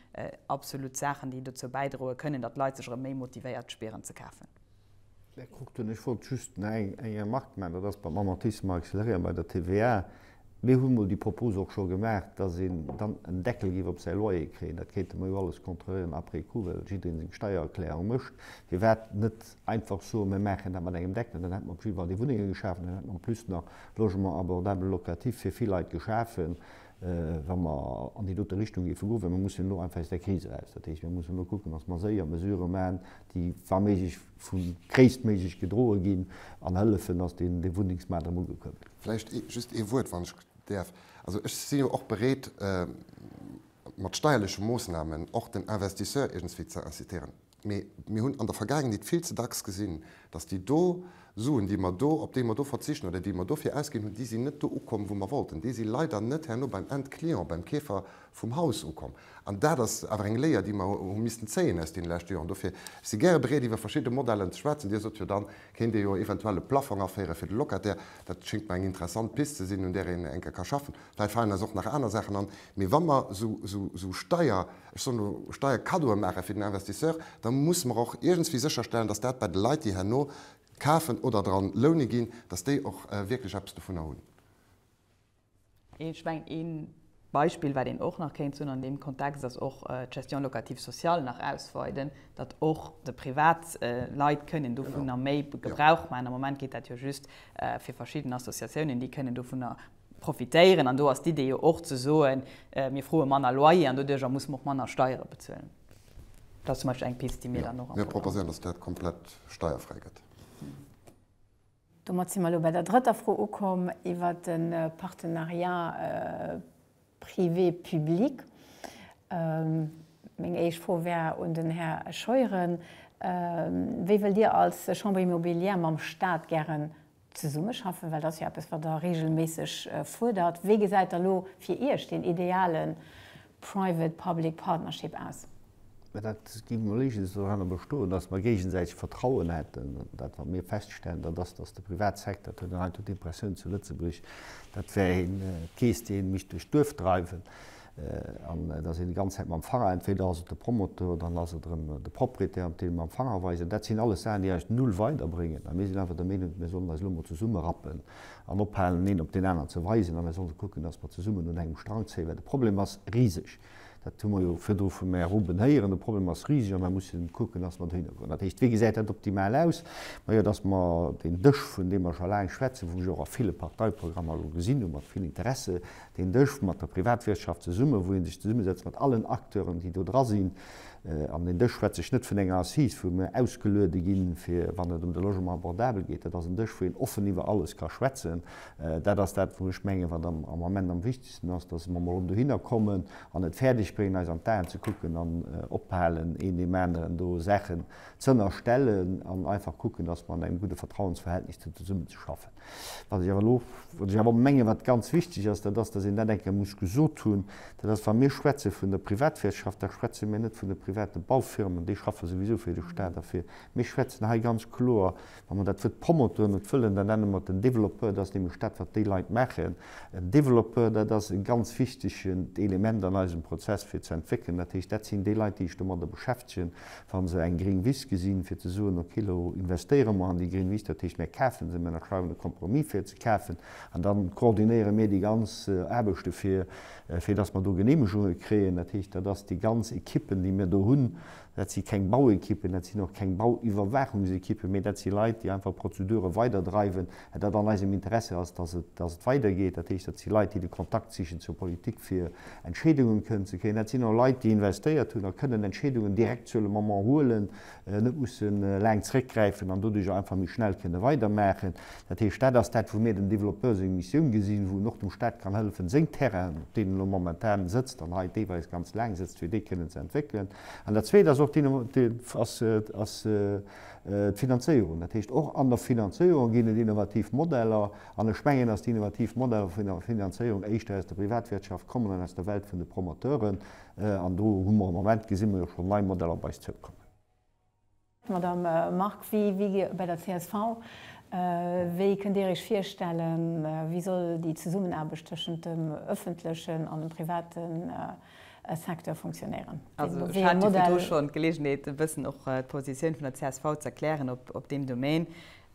absolut Saachen, déi dozou bäidroe kënnen, datt d'Leit sech erëm méi motivéiert spieren ze kafen. Där kuckt hunn. Ech wollt just nach eng Remark maachen, dat ass beim Amortissement accéléré an bei der TVA. Mir hunn emol déi Propos och scho gemaach, dass een dann en Deckel géif op säi Loyer kréien. Dat kéinte mer jo alles kontrolléieren après coup, well jiddereen seng Steiererklärung mécht. Firwat net einfach soen, mir maachen dat mat engem Deckel? Dann hätte mer op jiddwer Fall déi Wunnenge geschaf an dann hätte mer en plus nach Logement abordable locatif fir vill Leit geschafen. wa mer an déi dote Richtung géife goen, well mer mussen elo einfach aus där Kris eraus. Dat heescht, mir mussen elo kucken, datt mer séier Mesurë maachen, déi wa méiglech vu gréisstméiglech gedroe ginn an hëllefen, datt deen Wunnengsmaart erëm ugekuerbelt gëtt. Vläicht just ee Wuert, wann ech däerf. Also ech si jo och bereet, mat steierleche Moosnamen och den Investisseur iergendswéi ze incitéieren. Mee mir hunn an der Vergaangenheet vill ze dacks gesinn, dass déi do Suen, déi mer do, op déi mer do verzichten oder déi mer dofir ausginn hunn, déi sinn net do ukomm, wou mer wollten. Déi si leider net herno beim Endclient, beim Keefer vum Haus ukomm. An dat ass awer eng Léier, déi mer hu missten zéien aus deene leschte Joren. Dofir, ech si gäre bereet, iwwer verschidde Modellen ze schwätzen. Dir sot jo, da kéint Dir jo eventuell e Plaffong aféiere fir de Locataire. Dat schéngt mer eng interessant Pist ze sinn, un där een enke ka schaffen. Vläicht falen eis och nach aner Saachen an. Mee wa mer esou Steier. ech soen elo, Steierkaddoe maache fir den Investisseur, da musse mer och iergendswéi sécherstellen, datt dat bei de Leit, déi herno kafen oder dra loune ginn, datt déi och wierklech eppes dovunner hunn. Ech mengen, ee Beispill, wat een och nach kéint soen an deem Kontext, ass och d'Gestion locative sociale nach ausweiden, datt och de privat Leit kënnen dovunner méi Gebrauch maachen. Am Moment geet dat jo just fir verschidden Associatiounen, déi kënnen dovunner Profitéieren, an do ass d'Idee jo och ze soen, mir froe manner Loyer an doduerjer musse mer och manner Steiere bezuelen. Dat ass zum Beispill eng Pist, déi mir dann och am Programm hunn. Jo, mir proposéieren, dass dat komplett steierfräi gëtt. Domat si mer elo bei der drëtter Fro ukomm iwwert de Partenariat privé-public. Meng éischt Fro wär un den Här Scheuren, Wéi wëllt Dir als Chambre immobilière mam Stat gären Zesummeschaffen, well dat ass jo eppes, wat Der reegelméisseg fuerdert. Wéi gesäit da lo fir Iech deen ideale private public partnership aus? Mä dat gi mer léichen, dass doranner bestoen, dass mer géigesäiteg Vertrauen hätten, dat, wat mir feststellen, dat ass, dass de Privatsecteur, dat huet een heiansdo d'Impressioun zu Lëtzebuerg, dat wär ee Kees, dee mécht duerch d'Duerf dreiwen. An et ass een déi ganz Zäit mam Fanger, entweder ass et de Promoteur oder dann ass et erëm de Propriétaire, op dee mir mam Fanger weisen. Dat sinn alles Saachen, déi eis null weiderbréngen. A mir sinn einfach der Meenung, mir sollen eis elo emol zesummerappen an ophalen, den een op deen aneren ze weisen, a mir solle kucken, dass mer zesummen un engem Strang zéien, well de Problem ass riseg. Dat hu mer jo virdru vum Här Ruben héieren. De Problem ass riseg a mir mussen kucken, dass mer dohinner goen. Dat heescht, wéi gesäit dat optimal aus? Majo, dass mer deen Dësch, vun deem mer scho laang schwätzen, wou ech och a ville Parteiprogrammer elo gesinn hu mat vill Interesse, deen Dësch mat der Privatwirtschaft zesummen, wou ee sech zesummesetzt mat allen Acteuren, déi do dra sinn. An deen Dësch schwätze ech net vun enger Assise, wou mir ausgeluede ginn, fir wann et ëm de Logement abordable geet. Dat ass en Dësch, wou een offen iwwer alles ka schwätzen. Dat ass dat, wou ech mengen, wat am Ament am wichtegsten ass, dass mer emol dohinner kommen an et fäerdeg bréngen, eis an d'Aen ze kucken an ophalen, een deem aneren do Saachen z'ënnerstellen an einfach kucken, dass mer an engem gudde Vertrauensverhältnis zesummen ze schaffen. Wat ech awer elo, wat ech awer mengen, wat ganz wichtig ass, dat ass, dass een dat eng Kéier muss gesot hunn, dat ass, wa mir schwätze vun der Privatwirtschaft, da schwätze mir net vun de private Baufirmen, déi schaffe souwisou fir de Stat a fir. Mir schwätzen hei ganz kloer, wa mer dat Wuert Promoteur net wëllen, da nenne mer et en Développeur, dat ass nämlech dat, wat déi Leit maachen. En Développeur, dat ass e ganz wichtigent Element an eisem Prozess fir ze entwéckelen. Dat heescht, dat sinn déi Leit, déi sech domadder beschäftegen, wa se eng gring Wiss gesinn, fir ze soen, ok, elo investéiere mer an déi gring Wiss, dat heescht, mir kafe se, mir ënnerschreiwen e Compromis, fir ze kafen, an dann koordinéiere mir déi ganz Aarbechte fir, fir dass mer do Geneemegunge kréien. Dat heescht, dat ass déi ganz Ekippen, déi mir do hunn. Dat si keng Bauekippen, dat sinn och keng Bauiwwerwaachungsekippen, mee dat si Leit, déi einfach Prozedure weiderdreiwen, dat an eisem Interesse ass, dass et, dass et weidergeet, dat heescht, dat si Leit, déi de Kontakt sichen zur Politik, fir Entscheedungen kënnen ze kréien. Dat sinn och Leit, déi investéiert hunn a kënnen Entscheedungen direkt sur le moment huelen, net musse laang zréckgräifen an doduerjer einfach méi schnell kënne weidermaachen. Dat heescht, dat ass dat, wou mir dem Développeur seng Missioun gesinn, wou en och dem Stat kann hëllefen, seng Terrainen, op deenen e lo momentan sëtzt an hei deelweis ganz laang sëtzt, fir déi kënnen ze entwéckelen. An dat Zweet ass och, ass, d'Finanzéierung. Dat heescht, och an der Finanzéierung ginn et innovativ Modeller. An ech mengen, dass déi innovativ Modeller vun der Finanzéierung éischter aus der Privatwirtschaft kommen an aus der Welt vun de Promoteuren. An do hu mer am Moment, gesi mer jo schonn, nei Modeller op eis zoukommen. Madamm Margue, wéi bei der csv, wéi kënnt Dir Iech virstellen, wéi soll déi Zesummenaarbecht tëschent dem öffentlechen an dem privaten Secteur funktionéieren. Also ech hat jo virdu schonn d'Geleegenheet e bëssen och d'Positioun vun der csv z'erklären op deem Domän.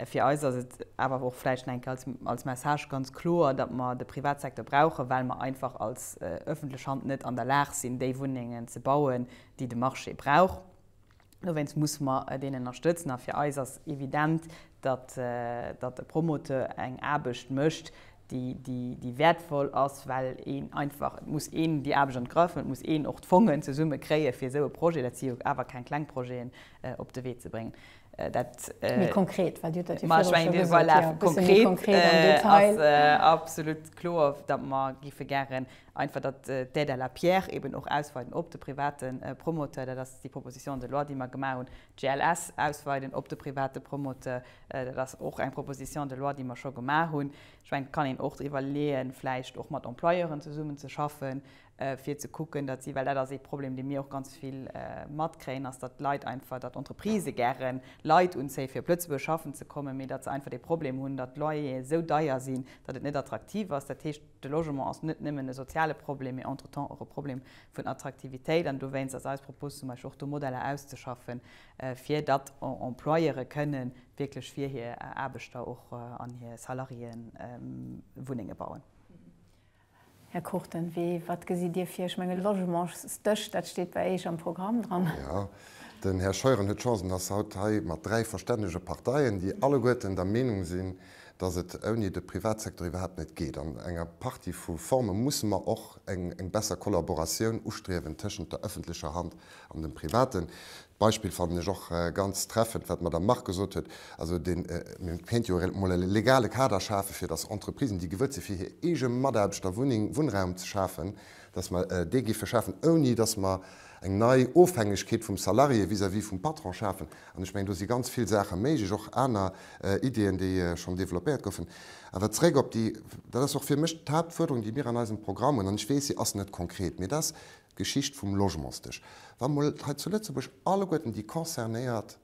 Fir eis ass et awer och vläicht enk als Message ganz kloer, datt mer de Privatsecteur brauchen, well mer einfach als ëffentlech Hand net an der Lag sinn déi Wunnengen ze bauen, déi de Marché brauch. Dowéinst musse mer deen ënnerstëtzen. A fir eis ass evident, datt e Promoteur eng Aarbecht mécht, déi wäertvoll ass, well een einfach, et muss een déi Aarbecht an d'Grëff hunn, et muss een och d'Fongen zesumme kréien, fir esou e Projet, dat si jo awer keng kleng Projeten, op de Wee ze bréngen. Dat. Méi konkret, well Dir hutt dat jo virdru scho gesot. Voilà, konkret ass absolut kloer, datt mer géife gären Einfach, datt d'Aide à la pierre eben och ausweiden op de private Promoteur, dat ass déi Proposition de loi, déi mer gemaach hunn. GLS ausweiden op de private Promoteur, dat ass och eng Proposition de loi, déi mer scho gemaach hunn. Ech mengen, et kann een och driwwer leeën, vläicht och mat Employeuren zesummen ze schaffen, fir ze kucken, datt si, well dat ass ee Problem, dee mir och ganz vill matkréien, ass, datt d'Leit einfach, datt d'Entreprisë gären Leit unzéie fir op Lëtzebuerg schaffen ze kommen, mee datt se einfach dee Problem hunn, datt d'Loyere sou deier sinn, datt et net attraktiv ass. Dat heescht. De Logement ass net nëmmen e soziale Problem, mee entretemps och e Problem vun Attraktivitéit. An dowéinst ass eis Propos zum Beispill och do Modeller auszeschaffen, fir datt Employeuren kënne wierklech fir hir Aarbechter och an hir Salariéë Wunnenge bauen. Här Cruchten, wéi, wat gesitt Dir vir? Ech mengen, Logementsdësch, dat steet bei Eech am Programm dran. Jo, den Här Scheuren huet d'Chance, en ass haut hei mat dräi verstännege Parteien, déi alleguerten der Meenung sinn, dass et ouni de Privatsecteur iwwerhaapt net geet. An enger Partie vu Forme musse mer och eng besser Kollaboratioun ustriewen tëschent der ëffentlecher Hand an dem Privaten. D'Beispill fannen ech och ganz treffend, wat d'Madame Margue gesot huet, also dee kéint jo emol e legale Kader schafen, fir dass Entreprisen, déi gewëllt sinn, fir hir eege Mataarbechter Wunneng, Wunnraum ze schafen, dass mer dee géife schafen, ouni dass mer eng nei Ofhängegkeet vum Salarié vis-à-vis vum Patron schafen. An ech mengen, do si ganz vill Saache méiglech, och aner Ideeën, déi schonn developpéiert goufen. Awer zeréck op déi, dat ass och fir mech d'Haaptfuerderung, déi mir an eisem Programm hunn, an ech weess, si ass net konkret, mee dat ass d'Geschicht vum Logementsdësch. Wa mol hei zu Lëtzebuerg alleguerten déi Concernéiert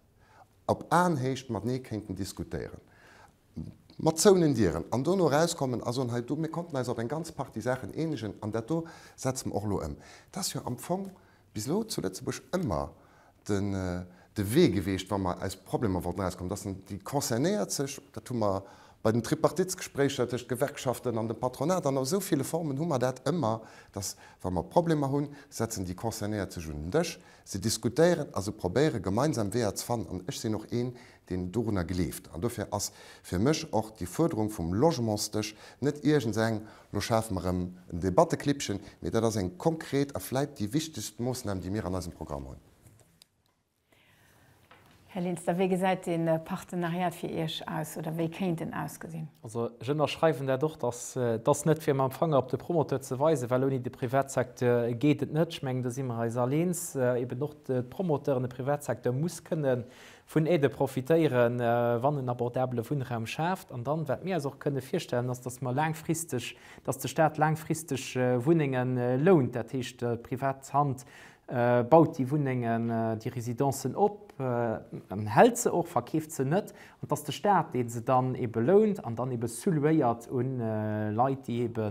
op Aenhéicht matenee kéinten diskutéieren, mat zouenen Dieren, an dono erauskommen a soen, hei do, mir konnten eis op eng ganz Partie Saachen eenegen an dat do setze mer och elo ëm, dat ass jo am Fong bis elo zu Lëtzebuerg ëmmer de Wee geweecht, wa mer aus Problemer wollten erauskommen, dass déi Concernéiert sech, dat hu mer bei den Tripartitsgespréicher tëscht Gewerkschaften an dem Patronat an a sou ville Formen hu mer dat ëmmer, dass, wa mer Problemer hunn, setzen déi Concernéiert sech un den Dësch, se diskutéieren a se probéiere gemeinsam Weeër ze fannen. An ech sinn och een, deen dorunner gleeft. An dofir ass fir mech och déi Fuerderung vum Logementsdësch net iergendseng Lo schafe mer erëm en Debatteklippchen, mee dat ass eng konkret a vläit déi wichtegst Moossnam, déi mir an eisem Programm hunn. Här Linster, wéi gesäit dee Partenariat fir Iech aus oder wéi kéint en ausgesinn? Also, ech ënnerschreiwen dat och, dass dass net fir mam Fanger op de Promoteur ze weisen, well ouni de Privatsecteur geet et net. Ech mengen, do si mer eis all eens, eben och d'Promoteuren, de Privatsecteur muss kënnen vun Aidë profitéieren, wann en abordabele Wunnraum schaaft. An dann, wat mir eis och kënne virstellen, ass, dass mer laangfristeg, dass de Stat laangfristeg Wunnenge lount. Dat heescht, privat Hand baut déi Wunnengen, déi Residencen op, hält se och, verkeeft se net, an dass de Stat, dee se dann eebe lount an dann eebe sous-louéiert un Leit, déi eebe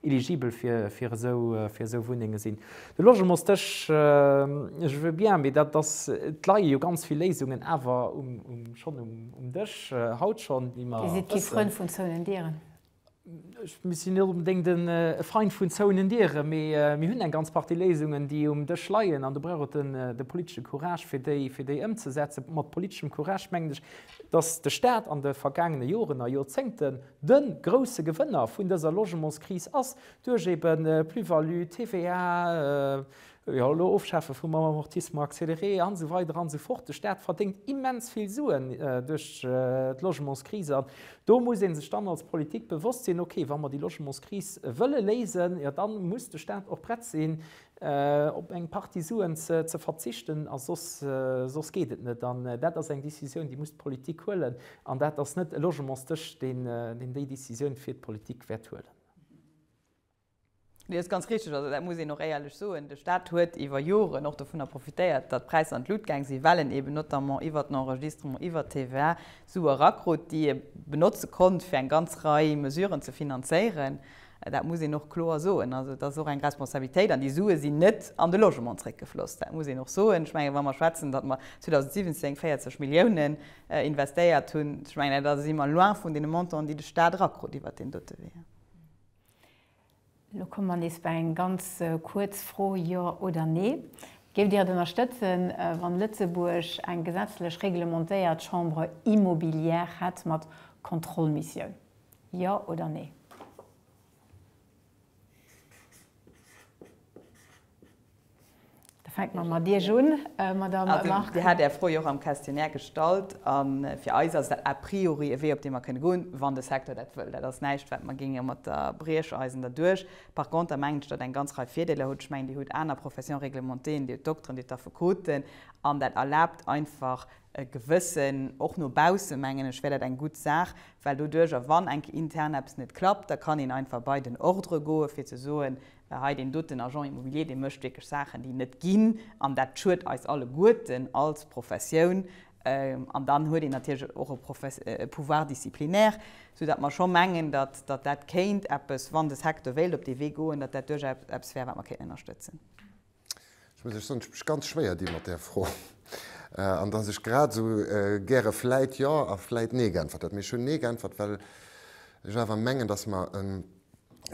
eligibel fir esou Wunnenge sinn. De Logementsdësch, je veux bien, mee dat ass, et leie jo ganz vill Léisungen awer schonn um Dësch haut schonn, déi mer wëssen. Dir sidd kee Frënd vun zouenen Dieren? Mir sinn net onbedéngt e Feind vun zouenen Dieren, mee mir hunn eng ganz Partie Léisungen, déi um Dësch leien, an do brauch et de politesche Courage, fir déi ëmzesetzen. Mat politeschem Courage mengen ech, dass de Stat an de vergaangene Joren a Jorzéngten, De grousse Gewënner vun dëser Logementskris ass duerch ebe Plus-value, TVA, jo elo Ofschafe vum Amortissement accéléré an esou weider an esou fort. De Staat verdéngt immens vill Suen duerch d'Logementskris an do muss ee sech dann als Politik bewosst sinn, okay, wa mer déi Logementskris wëlle léisen, jo dann muss de Staat och prett sinn, Op eng Partie Suen ze verzichten a soss, soss geet et net. An dat ass eng Décisioun, déi muss d'Politik huelen. An dat ass net e Logementsdësch, deen, deen déi Décisioun fir d'Politik wäert huelen. Nee, dat ass ganz richteg. Also dat muss een och éierlech soen. De Stat huet iwwer Joren och dovunner profitéiert, datt d'Präisser an d'Lut gaang sinn, well en eeben notamment iwwer den Enregistrement, iwwer d'TVA Sue erakrut, déi e benotze konnt, fir eng ganz Rei Mesuren ze finanzéieren. Dat muss een och kloer soen. Also et ass och eng Responsabilitéit an déi Sue sinn net an de Logement zréckgefloss. Dat muss een och soen. Ech mengen, wa mer schwätzen, datt mer 2017 40 Milliounen investéiert hunn, ech mengen, da si mer loin vun deene Montanten, déi de Stat erakrut iwwert deen dote Wee. Elo komme mer nees bei eng ganz kuerz Fro, Jo oder Nee. Géift Dir et ënnerstëtzen, wann Lëtzebuerg eng gesetzlech reglementéiert Chambre immobilière hätt mat Kontrollmissioun? Jo oder Nee? Da fänke mer mat Iech un, Madamm Marcon. Also, Dir hat Är Fro jo och am Questionnaire gestallt. A fir eis ass dat a priori e Wee, op dee mer kënne goen, wann de Secteur dat wëll. Dat ass näischt, wat mer géinge mat der Briecheisen derduerch. Par conter mengen ech, datt eng ganz Rei Virdeeler huet. Ech mengen, Dir hutt aner Professions réglementéeën, Dir hutt d'Dokteren, Dir hutt d'Affekoten. An dat erlaabt einfach, E gewëssen, och no bausse mengen ech, wär dat eng gutt Saach, well doduerch, a wann eng Kéier intern eppes net klappt, da kann een einfach bei den Ordre goe fir ze soen, hei deen doten Agent immobilier, dee mécht wierklech Saachen, déi net ginn, an dat schuet eis alleguerten als Professioun. An dann huet een natierlech och e Pouvoir disciplinaire, sou datt mer scho mengen, datt dat kéint eppes, wann de Secteur wéilt op dee Wee goen, datt dat duerchaus eppes wär, wat mer kéinten ënnerstëtzen. Ech muss lech soen, ech mech ganz schwéier di mat där Fro. An datt ech grad esou gäre vläit Jo a vläit Nee geäntwert hätt. Mee ech hunn Nee geäntwert, well ech awer mengen, datt mer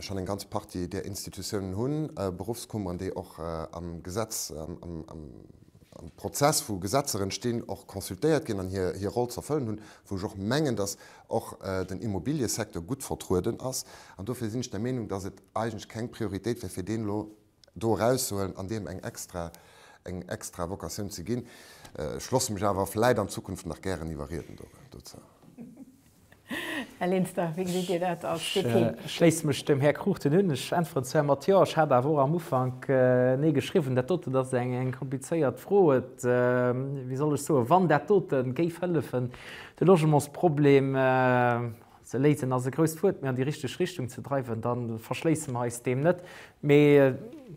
schonn eng ganz Partie där Institutiounen hunn, Beruffskummeren, déi och am Gesetz, am Prozess, wou Gesetzer entstinn, och consultéiert ginn an hir Roll z'erfëllen hunn, wou ech och mengen, datt och den Immobiliësecteur gutt vertrueden ass. An dofir sinn ech der Meenung, datt et eigentlech keng Prioritéit wär, fir deen elo do erauszehuelen an deem eng extra, eng extra Vocatioun ze ginn. Ech loosse mech awer vläit an Zukunft nach gären iwwerrieden dozou. Här Linster, wéi gesitt Dir dat als DP? Ech schléisse mech dem Här Cruchten un. Ech äntweren zwar mat Jo. Ech hat awer och am Ufank Nee geschriwwen. Dat doten ass eng komplizéiert Fro. Et, wéi soll ech soen, wann dat dote géif hëllefen de Logementsproblem Ze léisen ass e grousst Wuert, mee an déi richteg Richtung ze dreiwen, da verschléisse mer eis deem net. Mee,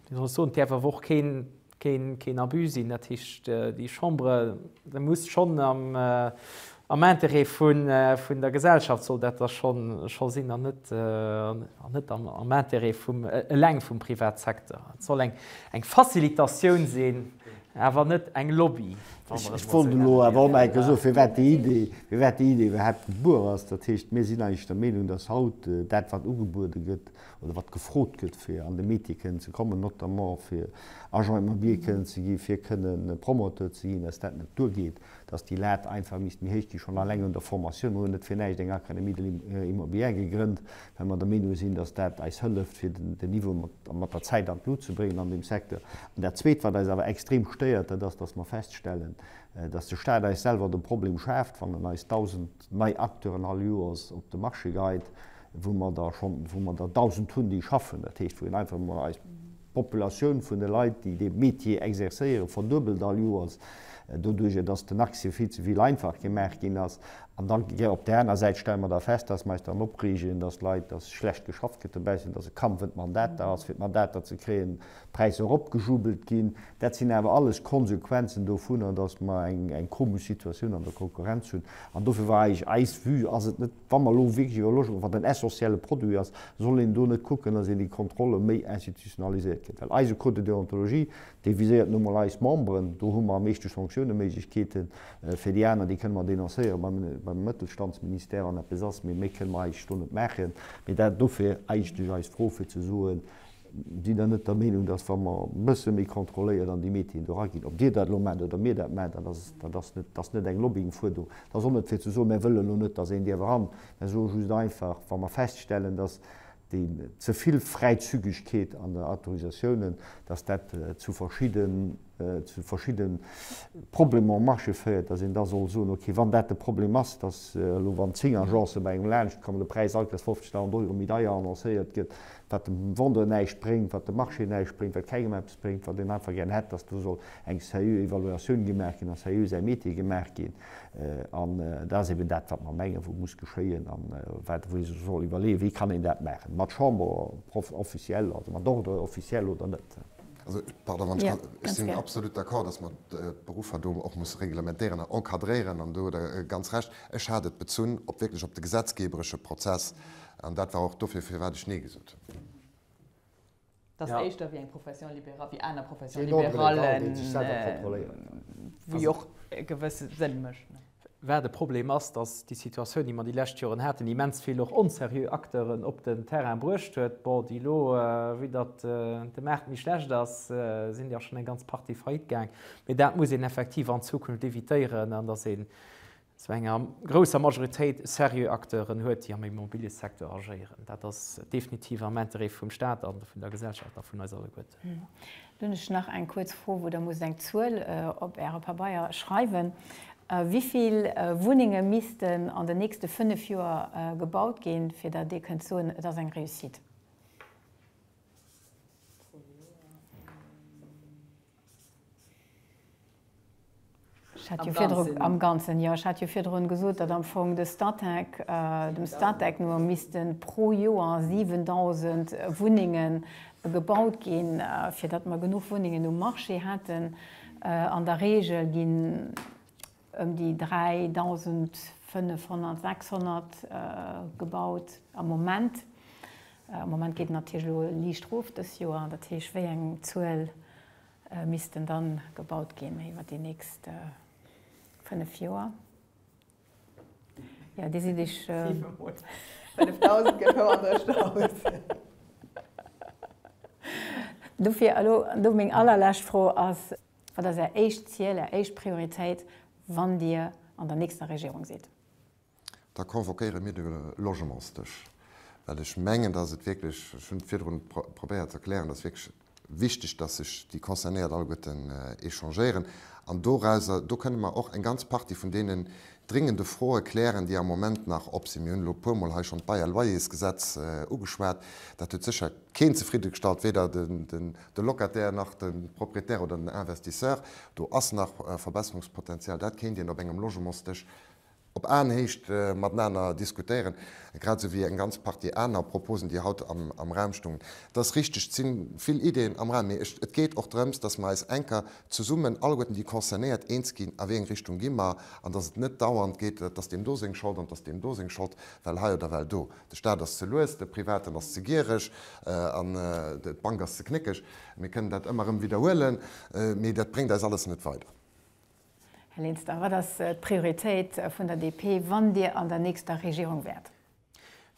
wéi soll ech soen, et däerf awer och keen Abus sinn. Dat heescht, déi Chambre, déi muss schonn am Interêt vun der Gesellschaft soll dat da scho sinn an net am Interêt eleng vum Privatsecteur. Et soll eng Facilitatioun sinn. Awer net eng Lobby, wa mer et mol esou nennen dierfen, oder? Firwat déi Idee? Firwat déi Idee iwwerhaapt gebuer ass, dat heescht, mir sinn eigentlech der Meenung, dass haut dat, wat ugebuede gëtt oder wat gefrot gëtt, fir an de Métier kënnen ze kommen, notamment fir Agent immobilier kënnen ze gi fir kënnen Promoteur ze ginn, dass dat net duergeet, dass déi Lat einfach misst méi héich gi schonn alleng un der Formation. Mir hunn net fir näischt eng Académie de l'immobilière gegrënnt. well mer der Meenung sinn, dass dat eis hëlleft, fir den Niveau mat der Zäit an d'Lut ze bréngen an deem Secteur. An dat Zweet, wat eis awer extrem stéiert, dat ass, dass mer feststellen, dass de Stat eis selwer de Problem schaaft, wann en eis 1.000 nei Acteuren all Joers op de Marché geit, wou mer der schonn, wou mer der 1.000 hunn, déi schaffen, dat heescht, wou een einfach emol eis. D'Populatioun vun de Leit, déi dee Metier exerzéieren, verduebelt all Joers, doduerjer datt den Accès vill ze vill einfach gemaach ginn ass. An da gëtt op där aner Säit, stelle mer da fest, datt mer eis dran opreegen, datt Leit, datt schlecht geschafft gëtt dobaussen, datt e Kampf ëm d'Mandater ass, fir d'Mandater ze kréien, d'Präisser eropgejubelt ginn. Dat sinn awer alles Konsequenzen dovunner, datt mer eng komesch Situatioun an der Konkurrenz hunn. An dofir war eis Vue, ass et net Wa mer elo wierklech iwwer Logement, wat en essentielle Produit ass, soll een do net kucken, dass een déi Kontrolle méi institutionaliséiert kritt? Well eise Code de déontologie, dee viséiert nu mol eis Memberen, do hu mer am meeschte Sanktiouneméiglechkeeten. Fir déi aner, déi kënne mer denoncéieren beim Mëttelstandsministère an eppes ass, mee méi kënne mer eigentlech do net maachen. Mee dat dofir eigentlech eis Fro, fir ze soen, Sidd der net der Meenung, dass, wa mer e bësse méi kontrolléiert an déi Métieren do eraginn, ob Dir dat elo maacht oder mir dat maachen, dat ass net, dass net eng Lobbyingfuerderung, dat ass och net fir ze soen, mär wëllen elo net, dass een dierf eran, mär soe just einfach, wa mer feststellen, dass déi ze vill Fräizügegkeet an der Autorisatiounen, dass dat zu verschidde, zu verschidde Problemer um Marché féiert, dass een da soll soen, okay, wann dat de Problem ass, dass elo wann zéng Agencë bei engem laanschtkommen, de Präis alt Joers 50.000 Euro méi deier annoncéiert gëtt, wat dem Vendeur näischt bréngt, wat dem Marché näischt bréngt, wat kengem eppes bréngt, wat een einfach gären hätt, dass do soll eng sérieux Evaluatioun gemaach ginn a sérieux Enquêté gemaach ginn. An dat ass eben dat, wat mer mengen, wat muss geschéien a wat ee sech soll iwwerleeën, Wéi kann een dat maachen? Mat Chambre officielle, also mat Ordre officiel oder net? Also, pardon, wann ech kann, ech sinn absolut d'accord, dass mer d'Beruffer do och musse reglementéieren a encadréieren. An do hutt Der ganz Recht. Ech hat et bezunn op wierklech op de gesetzgeberesche Prozess. An dat war och dofir, firwat ech Nee gesot hunn. Dat ass éischter wéi eng Profession libérale, wéi aner Professions libérallen, wou jo och e gewësse Sënn mécht. Wat e Problem ass, dass déi Situatioun, déi mer déi lescht Joren haten, immens vill och onserieux Acteuren op den Terrain bruecht huet. Bon, déi elo, wéi datt de Maart méi schlecht ass, sinn jo schonn eng ganz Partie faillite gaang. Mee dat muss een effektiv an Zukunft évitéieren, an dass ee Zu enger grousser Majoritéit seriö Acteuren huet, déi am Immobiliësecteur agéieren. Dat ass definitiv am Interêt vum Stat a vun der Gesellschaft a vun eis alleguerten. Dann hunn ech nach eng kuerz Fro, wou Der musst eng Zuel op Äre Pabeier schreiwen. Wéi vill Wunnenge missten an den nächste fënnef Joer gebaut ginn, fir datt Dir kënnt soen, et ass eng Réussite? Am Ganzen? Am Ganzen, jo. Ech hat jo virdrun gesot, datt am Fong de Statec, dem Statec no missten pro Joer 7.000 Wunnenge gebaut ginn, fir datt mer genuch Wunnengen um Marché hätten. An der Reegel ginn. ëm déi 3.500, 600 gebaut am Moment. Am Moment geet et natierlech elo liicht erof dës Joer. Dat heesch, wéi eng Zuel missten da gebaut ginn iwwer déi nächst fënnef Joer? Jo, déi sinn iech. Siewenhonnert. 5.000 gëtt houer drëscht aus. Dofir elo do meng allerlescht Fro ass. Wat ass Är éischt Ziel, Är éischt Prioritéit, wann Dir an der nächster Regierung sidd? Da convoquéiere mir de Logementsdësch, well ech mengen, dass et wierklech, ech hunn et virdrun probéiert ze erklären, dass wierklech wichteg, dass sech déi Concernéiert alleguerten échangéieren. An dorauser, do kënnen mer och eng ganz Partie vun deenen dringende Froe klären, déi am Moment nach op sinn. Mir hunn elo e puermol hei schonn d'Bail à loyers-Gesetz ugeschwat. Dat huet sécher keen zefridde gestallt, weder de Locataire nach de Propriétaire oder den Investisseur. Do ass nach Verbesserungspotenzial. Dat kéint een op engem Logementsdësch op Aenhéicht matenaner diskutéieren, grad esou wéi eng ganz Partie aner Proposen, déi haut am Raum stungen. Et ass richteg, et si vill Ideeën am Raum, mee et geet och drëms, dass mer eis enker zesummen, alleguerten déi Concernéiert, eens ginn, a wéi eng Richtung gi mer, an dass et net dauernd geet, dass deem do seng Schold an dass deem do seng Schold, well hei oder well do. De Staat ass ze lues, de Privaten ass ze giereg an d'Bank ass ze knéckeg. Mir kënnen dat ëmmer erëm widderhuelen, mee dat bréngt eis alles net weider. Här Linster, wat ass d'Prioritéit vun der DP, wann Dir an der nächster Regierung wäert?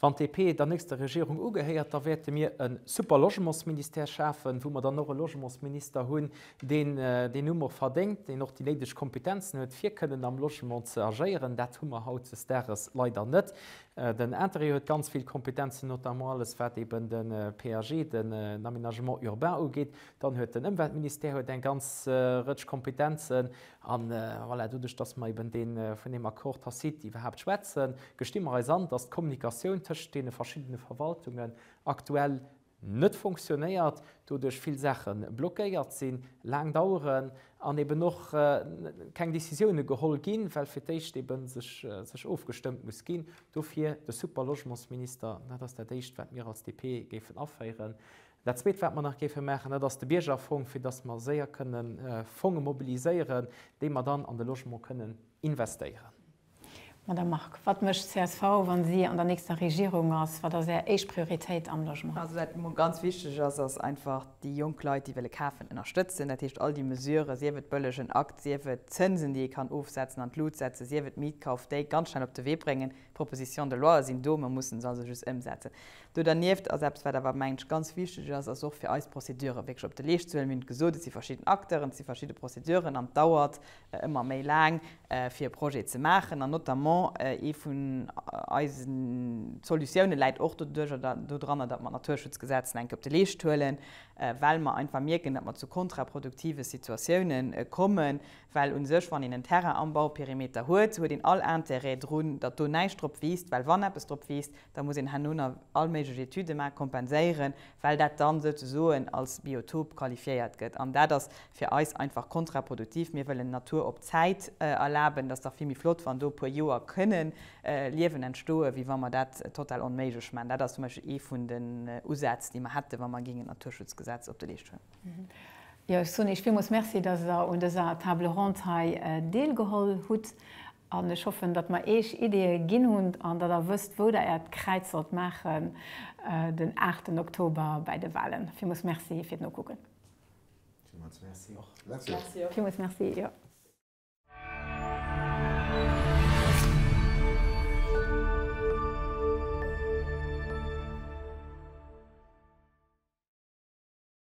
Wann d'DP der nächster Regierung ugehéiert, da wäerte mir e super Logementsministère schafen, wou mer dann och e Logementsminister hunn, deen deen Numm och verdéngt, deen och déi néideg Kompetenzen huet, fir kënnen am Logement ze agéieren. Dat hu mer hautdesdaags leider net. Den Interreg huet ganz vill Kompetenzen, notamment alles wat eben de PAG, den Aménagement urbain, ugeet. Dann huet den Ëmweltministère huet eng ganz Rëtsch Kompetenzen. A voilà, doduerch datt mer eben dee vun deem Accord tacite iwwerhaapt schwätzen, gesti mer eis an, datt d'Kommunikatioun tëschent deene verschiddene Verwaltungen aktuell, net fonctionnéiert, doduerch vill Saache blockéiert sinn, laang daueren an eben och keng Décisioune geholl ginn, well fir d'éischt ebe sech ofgestëmmt muss ginn. Dofir de Super-Logementsminister, dat ass dat Éischt, wat mir als DP géifen aféieren. Dat Zweet, wat mer nach géife maachen, dat ass de Biergerfong, fir datt mer séier kënne Fonge mobiliséieren, déi mer dann an de Logement kënnen investéieren. Madame Margue, wat mécht csv, wa si an der nächster Regierung ass? Wat ass Är éischt Prioritéit am Logement? Also wat mol ganz wichteg ass, ass einfach déi jonk Leit, déi wëlle kafen, ënnerstëtzen. Dat heescht, all déi Mesuren, sief et bëllegen Akt, sief et Zënsen, déi ee kann ofsetzen, an d'Lut setzen, sief et Mietkauf, déi ganz schnell op de Wee bréngen. D'Propositions de loie sinn do, mer mussen se also just ëmsetzen. Do dernieft ass eppes, wat awer, mengen ech, ganz wichteg ass, ass och fir eis d'Prozeduren wierklech op de Leescht ze huelen. Mir hunn et gesot, et si verschidden Acteuren, et si verschidde Prozeduren an et dauert ëmmer méi laang fir e Projet ze maachen an notamment ee vun eise Solutioune läit och dodranner, datt mer d'Naturschutzgesetz eng Kéier op de Leescht huelen, well mer einfach mierken, datt mer zu kontraproduktive Situatioune kommen, well u sech, wann een en Terrain am Bauperimeter huet, huet een all Intérêt drun, datt do näischt drop wiisst, well wann eppes drop wiisst, Da muss een herno nach all méiglech Etüde maachen, kompenséieren, well dat dann souzesoen als Biotop qualifiéiert gëtt. An dat ass fir eis einfach kontraproduktiv. Mir wëllen Natur op Zäit erlaben. Et ass dach vill méi flott, wann do e puer Joer kënnen Liewen entstoen, wéi wa mer dat total onméiglech maachen. Dat ass zum Beispill ee vun den Usätz, déi mer hätten, wa mer géingen d'Naturschutzgesetz op de Leescht huelen. Jo, ech soen Iech villmools Merci, dass Der un dëser Table ronde hei deelgeholl hutt. An ech hoffen, datt mer Eech Ideeë ginn hunn an datt Der wësst, wou Der Äert Kräiz sollt maachen den aachten Oktober bäi de Wahlen. Villmools Merci fir d'Nokucken. Villmools Merci och. Merci och. Villmools Merci, jo.